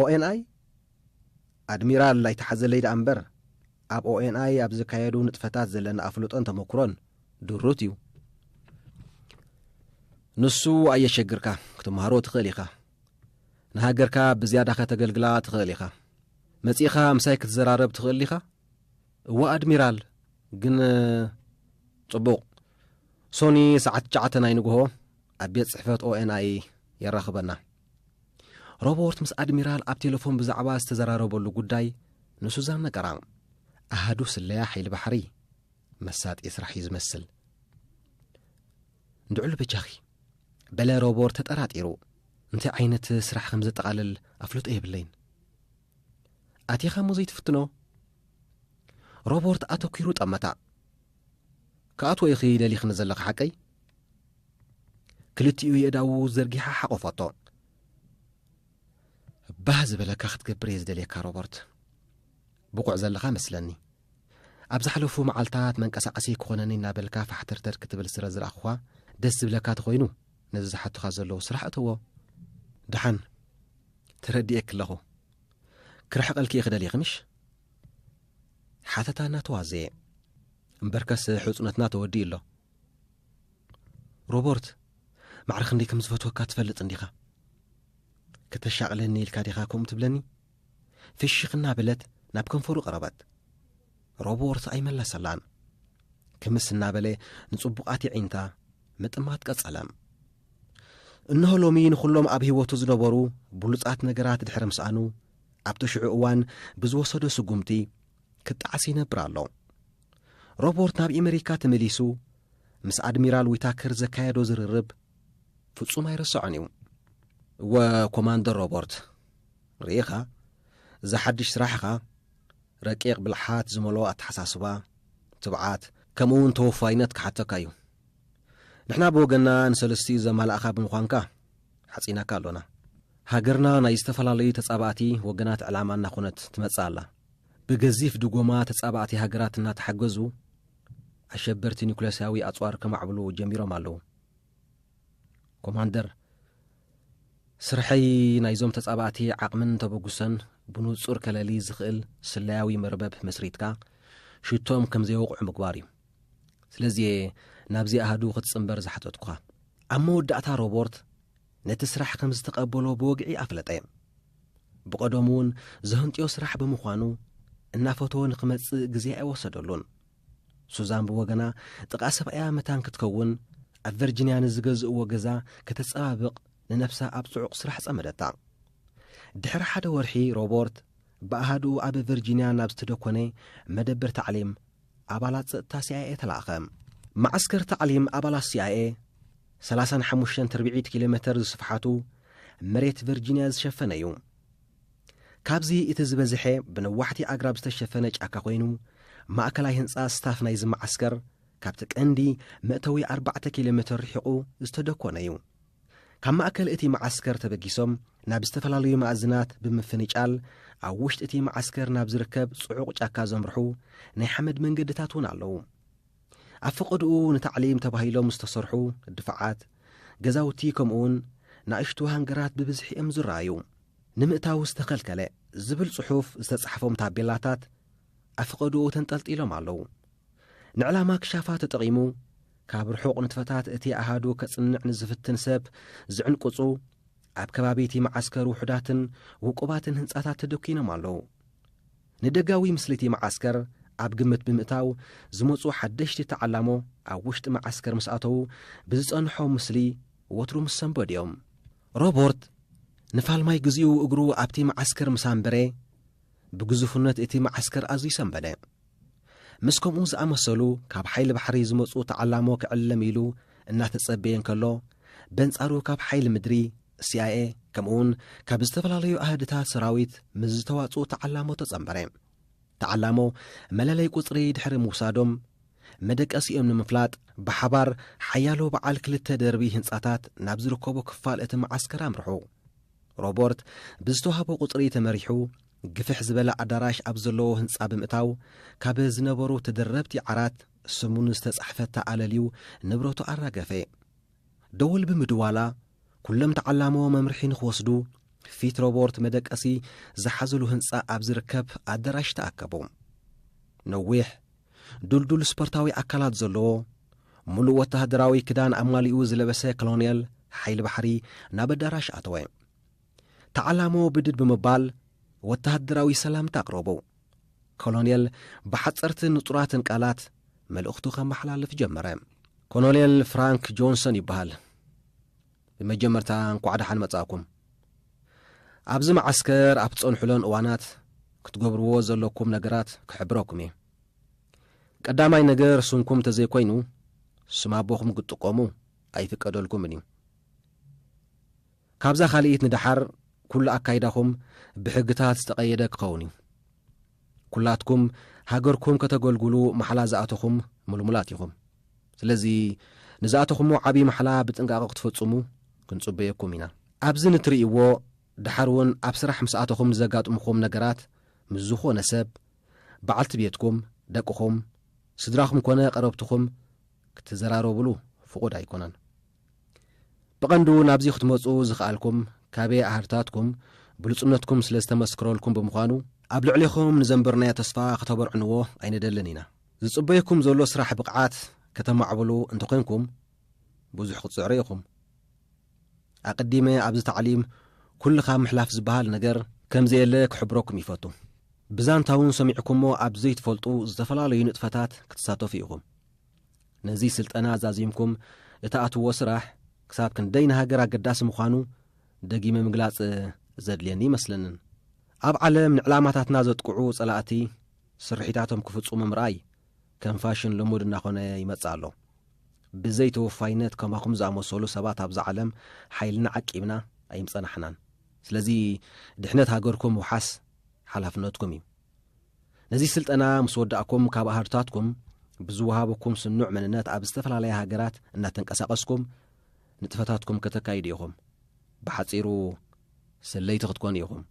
ኦኤንኣይ ኣድሚራል ኣይትሓዘለይ ደኣ እምበር፣ ኣብ ኦኤንኣይ ኣብ ዝካየዱ ንጥፈታት ዘለና ኣፍልጦን ተመኩሮን ድሩት እዩ። ንሱ ኣየሸግርካ፣ ክትመሃሮ ትኽእል ኢኻ። ንሃገርካ ብዝያዳ ከተገልግላ ትኽእል ኢኻ። መጺእኻ ምሳይ ክትዘራረብ ትኽእል ዲኻ? እዋ ኣድሚራል፣ ግን ጽቡቕ፣ ሶኒ ሰዓት ትሽዓተ ናይ ንግሆ ኣብ ቤት ጽሕፈት ኦኤንኣይ የራኽበና። ሮቦርት ምስ ኣድሚራል ኣብ ቴለፎን ብዛዕባ ዝተዘራረበሉ ጉዳይ ንሱዛን ነገራ። ኣሃዱ ስለያ ሓይሊ ባሕሪ መሳጢ ስራሕ እዩ ዝመስል። ንድዕሉ በጃኺ በለ ሮቦርት ተጠራጢሩ። እንታይ ዓይነት ስራሕ ከም ዘጠቓልል ኣፍልጦ የብለይን። ኣቲኻ እሞ ዘይትፍትኖ ሮቦርት ኣተኲሩ ጠመታ ክኣትዎ ኢኺ ደሊኽኒ ዘለኺ ሓቀይ ክልቲኡ የእዳዉ ዘርጊሓ ሓቆፈቶ ባህ ዝበለካ ክትገብር እየ ዝደልየካ ሮበርት ብቑዕ ዘለኻ መስለኒ ኣብ ዝሓለፉ መዓልትታት መንቀሳቐሲ ክኾነኒ እናበልካ ፋሕተርተር ክትብል ስረ ዝረኣኹኻ ደስ ዝብለካ ተኾይኑ ነዚ ዝሓቱኻ ዘለዉ ስራሕ እተዎ ድሓን ተረድኤ ክለኹ ክርሕቐልኪ እየ ክደልየ ክምሽ ሓተታ እናተዋዘየ እምበርከስ ሕፁነትና ተወዲኡ ኣሎ ሮቦርት ማዕረ ክንደይ ከም ዝፈትወካ ትፈልጥ እንዲኻ ከተሻቕለኒ ኢልካ ዲኻ ከምኡ ትብለኒ ፍሽኽ እናበለት ናብ ከንፈሩ ቀረበት ሮቦርት ኣይመለሰላን ክምስ እናበለ ንጽቡቓት ይዒንታ ምጥማት ቀጸለ እንሆ ሎሚ ንዅሎም ኣብ ህይወቱ ዝነበሩ ብሉጻት ነገራት ድሕሪ ምስኣኑ ኣብቲ ሽዑ እዋን ብዝወሰዶ ስጉምቲ ክጣዕሲ ይነብር ኣሎ ሮቦርት ናብ ኤመሪካ ተመሊሱ ምስ ኣድሚራል ዊታከር ዘካየዶ ዝርርብ ፍጹም ኣይረስዖን እዩ። እወ ኮማንደር ሮቦርት፣ ርኢኻ እዚ ሓድሽ ስራሕኻ ረቂቕ ብልሓት ዝመልኦ ኣተሓሳስባ፣ ትብዓት፣ ከምኡውን ተወፋይነት ክሓተካ እዩ። ንሕና ብወገንና ንሰለስቲኡ ዘማላእኻ ብምዃንካ ሓጺናካ ኣሎና። ሃገርና ናይ ዝተፈላለዩ ተጻባእቲ ወገናት ዕላማ እናኾነት ትመጽእ ኣላ። ብገዚፍ ድጎማ ተጻባእቲ ሃገራት እናተሓገዙ ኣሸበርቲ ኒኩለስያዊ ኣጽዋር ከማዕብሉ ጀሚሮም ኣለዉ። ኮማንደር ስርሐይ ናይዞም ተጻባእቲ ዓቕምን ተበጉሰን ብንጹር ከለሊ ዝኽእል ስለያዊ መርበብ መስሪትካ ሽቶም ከም ዘይወቕዑ ምግባር እዩ። ስለዚ እየ ናብዚ ኣሃዱ ክትጽምበር ዝሓተትኩኻ። ኣብ መወዳእታ ሮቦርት ነቲ ስራሕ ከም ዝተቐበሎ ብወግዒ ኣፍለጠ። ብቐደሙ እውን ዘህንጥዮ ስራሕ ብምዃኑ እናፈተወ ንኽመጽእ ግዜ ኣይወሰደሉን። ሱዛን ብወገና ጥቓ ሰብኣያ መታን ክትከውን ኣብ ቨርጂንያ ንዝገዝእዎ ገዛ ከተጸባብቕ ንነብሳ ኣብ ጽዑቕ ስራሕ ጸመደታ። ድሕሪ ሓደ ወርሒ ሮቦርት ብኣሃዱኡ ኣብ ቨርጂንያ ናብ ዝተደኮነ መደብር ታዕሊም ኣባላት ጸጥታ ሲኣይኤ ተላእከ። መዓስከር ታዕሊም ኣባላት ሲኣይኤ፣ ሰላሳን ሓሙሽተን ትርብዒት ኪሎ ሜተር ዝስፍሓቱ መሬት ቨርጂንያ ዝሸፈነ እዩ። ካብዚ እቲ ዝበዝሐ ብነዋሕቲ ኣግራብ ዝተሸፈነ ጫካ ኮይኑ፣ ማእከላይ ህንጻ ስታፍ ናይዚ መዓስከር ካብቲ ቀንዲ መእተዊ ኣርባዕተ ኪሎ ሜተር ርሒቑ ዝተደኮነ እዩ። ካብ ማእከል እቲ መዓስከር ተበጊሶም ናብ ዝተፈላለዩ መኣዝናት ብምፍንጫል ኣብ ውሽጢ እቲ መዓስከር ናብ ዝርከብ ጽዑቕ ጫካ ዘምርሑ ናይ ሓመድ መንገድታት እውን ኣለዉ። ኣብ ፈቐድኡ ንታዕሊም ተባሂሎም ዝተሰርሑ ድፋዓት፣ ገዛውቲ ከምኡውን ናእሽቱ ሃንገራት ብብዝሒ እዮም ዝረኣዩ። ንምእታው ዝተኸልከለ ዝብል ጽሑፍ ዝተጻሕፎም ታቤላታት ኣብ ፈቐድኡ ተንጠልጢሎም ኣለዉ። ንዕላማ ክሻፋ ተጠቒሙ፣ ካብ ርሑቕ ንጥፈታት እቲ ኣሃዱ ከጽንዕ ንዝፍትን ሰብ ዝዕንቅጹ፣ ኣብ ከባቢ እቲ መዓስከር ውሑዳትን ውቁባትን ህንጻታት ተደኲኖም ኣለዉ። ንደጋዊ ምስሊ እቲ መዓስከር ኣብ ግምት ብምእታው፣ ዝመጹ ሓደሽቲ ተዓላሞ ኣብ ውሽጢ መዓስከር ምስ ኣተዉ፣ ብዝጸንሖም ምስሊ ወትሩ ምስ ሰንበዱ እዮም። ሮቦርት ንፋልማይ ግዜኡ እግሩ ኣብቲ መዓስከር ምስ ኣንበረ፣ ብግዙፍነት እቲ መዓስከር ኣዝዩ ሰንበደ። ምስ ከምኡ ዝኣመሰሉ ካብ ሓይሊ ባሕሪ ዝመጹ ተዓላሞ ክዕልም ኢሉ እናተጸበየ እንከሎ፣ በንጻሩ ካብ ሓይሊ ምድሪ፣ CIA፣ ከምኡውን ካብ ዝተፈላለዩ ኣሃድታት ሰራዊት ምስ ዝተዋጽኡ ተዓላሞ ተጸንበረ። ተዓላሞ መለለይ ቁጽሪ ድሕሪ ምውሳዶም፣ መደቀሲኦም ንምፍላጥ ብሓባር ሓያሎ በዓል ክልተ ደርቢ ህንጻታት ናብ ዝርከቦ ክፋል እቲ መዓስከር ኣምርሑ። ሮቦርት ብዝተዋህቦ ቁጽሪ ተመሪሑ ግፍሕ ዝበለ ኣዳራሽ ኣብ ዘለዎ ህንጻ ብምእታው ካብ ዝነበሩ ተደረብቲ ዓራት ስሙ ንዝተጻሕፈታ ኣለልዩ ንብረቱ ኣራገፈ። ደወል ብምድዋላ ኩሎም ተዓላሞ መምርሒ ንክወስዱ ፊት ሮቦርት መደቀሲ ዝሓዘሉ ህንጻ ኣብ ዝርከብ ኣዳራሽ ተኣከቡ። ነዊሕ ዱልዱል ስፖርታዊ ኣካላት ዘለዎ ምሉእ ወተሃደራዊ ክዳን ኣማሊኡ ዝለበሰ ኮሎኔል ሓይሊ ባሕሪ ናብ ኣዳራሽ ኣተወ። ተዓላሞ ብድድ ብምባል ወተሃደራዊ ሰላምታ ኣቕረቡ። ኮሎኔል ብሓጸርትን ንጹራትን ቃላት መልእኽቱ ከመሓላልፍ ጀመረ። ኮሎኔል ፍራንክ ጆንሰን ይበሃል። ብመጀመርታ እንኳዕ ደሓን መጻእኩም። ኣብዚ መዓስከር ኣብ ትጸንሑለን እዋናት ክትገብርዎ ዘለኩም ነገራት ክሕብረኩም እየ። ቀዳማይ ነገር ስምኩም ተዘይኮይኑ ስም ኣቦኹም ክትጥቀሙ ኣይፍቀደልኩምን እዩ። ካብዛ ካልኢት ንደሓር ኩሉ ኣካይዳኹም ብሕግታት ዝተቐየደ ክኸውን እዩ። ኩላትኩም ሃገርኩም ከተገልግሉ ማሕላ ዝኣተኹም ምልሙላት ኢኹም። ስለዚ ንዝኣተኹሞ ዓብዪ ማሕላ ብጥንቃቐ ክትፈጽሙ ክንጽበየኩም ኢና። ኣብዚ ንትርእይዎ ደሓር እውን ኣብ ስራሕ ምስ ኣተኹም ንዘጋጥሙኹም ነገራት ምስ ዝኾነ ሰብ በዓልቲ ቤትኩም፣ ደቅኹም፣ ስድራኹም ኮነ ቀረብትኹም ክትዘራረቡሉ ፍቑድ ኣይኮነን። ብቐንዱ ናብዚ ክትመጹ ዝኸኣልኩም ካቤ ኣሃዱታትኩም ብሉጽነትኩም ስለ ዝተመስክረልኩም ብምዃኑ፣ ኣብ ልዕሌኹም ንዘንበርናዮ ተስፋ ከተበርዕንዎ ኣይንደልን ኢና። ዝጽበየኩም ዘሎ ስራሕ ብቕዓት ከተማዕብሉ እንተኾይንኩም ብዙሕ ክትጽዕሩ ኢኹም። ኣቀዲመ ኣብዚ ታዕሊም ኩልኻ ምሕላፍ ዝበሃል ነገር ከምዘየለ ክሕብረኩም ይፈቱ። ብዛንታውን ሰሚዕኩሞ ኣብ ዘይትፈልጡ ዝተፈላለዩ ንጥፈታት ክትሳተፉ ኢኹም። ነዚ ስልጠና ዛዚምኩም እትኣትዎ ስራሕ ክሳብ ክንደይ ንሃገር ኣገዳሲ ምዃኑ ደጊመ ምግላጽ ዘድልየኒ ኣይመስለንን። ኣብ ዓለም ንዕላማታትና ዘጥቅዑ ጸላእቲ ስርሒታቶም ክፍጽሙ ምርኣይ፣ ከም ፋሽን ልሙድ እናኾነ ይመጽእ ኣሎ። ብዘይ ተወፋይነት ከማኹም ዝኣመሰሉ ሰባት ኣብዛ ዓለም ሓይልና ዓቂብና ኣይምጸናሕናን። ስለዚ ድሕነት ሃገርኩም ምውሓስ ሓላፍነትኩም እዩ። ነዚ ስልጠና ምስ ወዳእኩም ካብ ኣሃዱታትኩም ብዝወሃበኩም ስኑዕ መንነት ኣብ ዝተፈላለያ ሃገራት እናተንቀሳቐስኩም ንጥፈታትኩም ከተካይዱ ኢኹም። ብሓጺሩ ስለይቲ ክትኮኑ ኢኹም።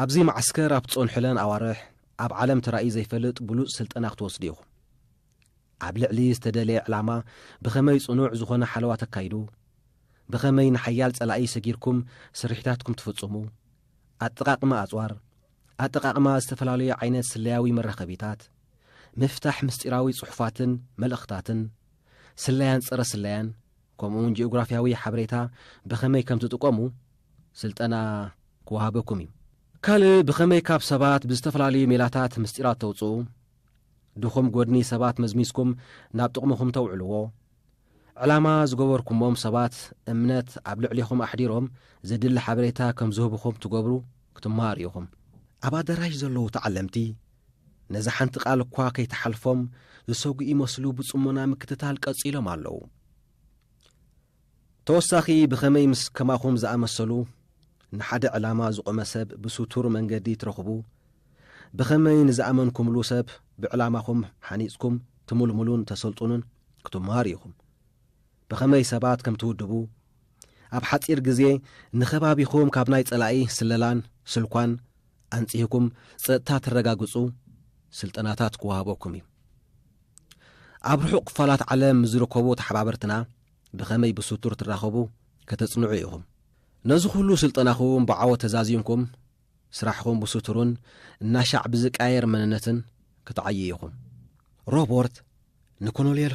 ኣብዚ መዓስከር ኣብ ትጸንሑለን ኣዋርሕ ኣብ ዓለም ተራእዩ ዘይፈልጥ ብሉጽ ስልጠና ክትወስዱ ኢኹም። ኣብ ልዕሊ ዝተደለየ ዕላማ ብኸመይ ጽኑዕ ዝኾነ ሓለዋ ተካይዱ፣ ብኸመይ ንሓያል ጸላኢ ሰጊርኩም ስርሒታትኩም ትፍጽሙ፣ ኣጠቓቕማ ኣጽዋር፣ ኣጠቓቕማ ዝተፈላለዩ ዓይነት ስለያዊ መራኸቢታት፣ ምፍታሕ ምስጢራዊ ጽሑፋትን መልእኽታትን፣ ስለያን ጸረ-ስለያን፣ ከምኡውን ጂኦግራፍያዊ ሓበሬታ ብኸመይ ከም ትጥቀሙ ስልጠና ክወሃበኩም እዩ። ካልእ ብኸመይ ካብ ሰባት ብዝተፈላለዩ ሜላታት ምስጢራት ተውጽኡ፣ ድኹም ጎድኒ ሰባት መዝሚዝኩም ናብ ጥቕምኹም ተውዕልዎ፣ ዕላማ ዝገበርኩሞም ሰባት እምነት ኣብ ልዕሊኹም ኣሕዲሮም ዘድሊ ሓበሬታ ከም ዝህቡኹም ትገብሩ ክትመሃሩ ኢኹም። ኣብ ኣደራሽ ዘለዉ ተዓለምቲ ነዛ ሓንቲ ቃል እኳ ከይተሓልፎም ዝሰጉ ይመስሉ ብጽሞና ምክትታል ቀጺሎም ኣለዉ። ተወሳኺ ብኸመይ ምስ ከማኹም ዝኣመሰሉ ንሓደ ዕላማ ዝቖመ ሰብ ብሱቱር መንገዲ ትረኽቡ፣ ብኸመይ ንዝኣመንኩምሉ ሰብ ብዕላማኹም ሓኒጽኩም ትምልምሉን ተሰልጡኑን ክትመሃሩ ኢኹም። ብኸመይ ሰባት ከም ትውድቡ፣ ኣብ ሓጺር ግዜ ንከባቢኹም ካብ ናይ ጸላኢ ስለላን ስልኳን ኣንጺህኩም ጸጥታ ተረጋግጹ ስልጠናታት ክወሃበኩም እዩ። ኣብ ርሑቕ ክፋላት ዓለም ምስ ዝርከቡ ተሓባበርትና ብኸመይ ብስቱር ትራኸቡ ከተጽንዑ ኢኹም። ነዚ ኩሉ ስልጠናኹም ብዓወት ተዛዚምኩም፣ ስራሕኹም ብስቱሩን እናሻዕ ብዝቃየር መንነትን ክትዓዩ ኢኹም። ሮቦርት ንኮኖልየል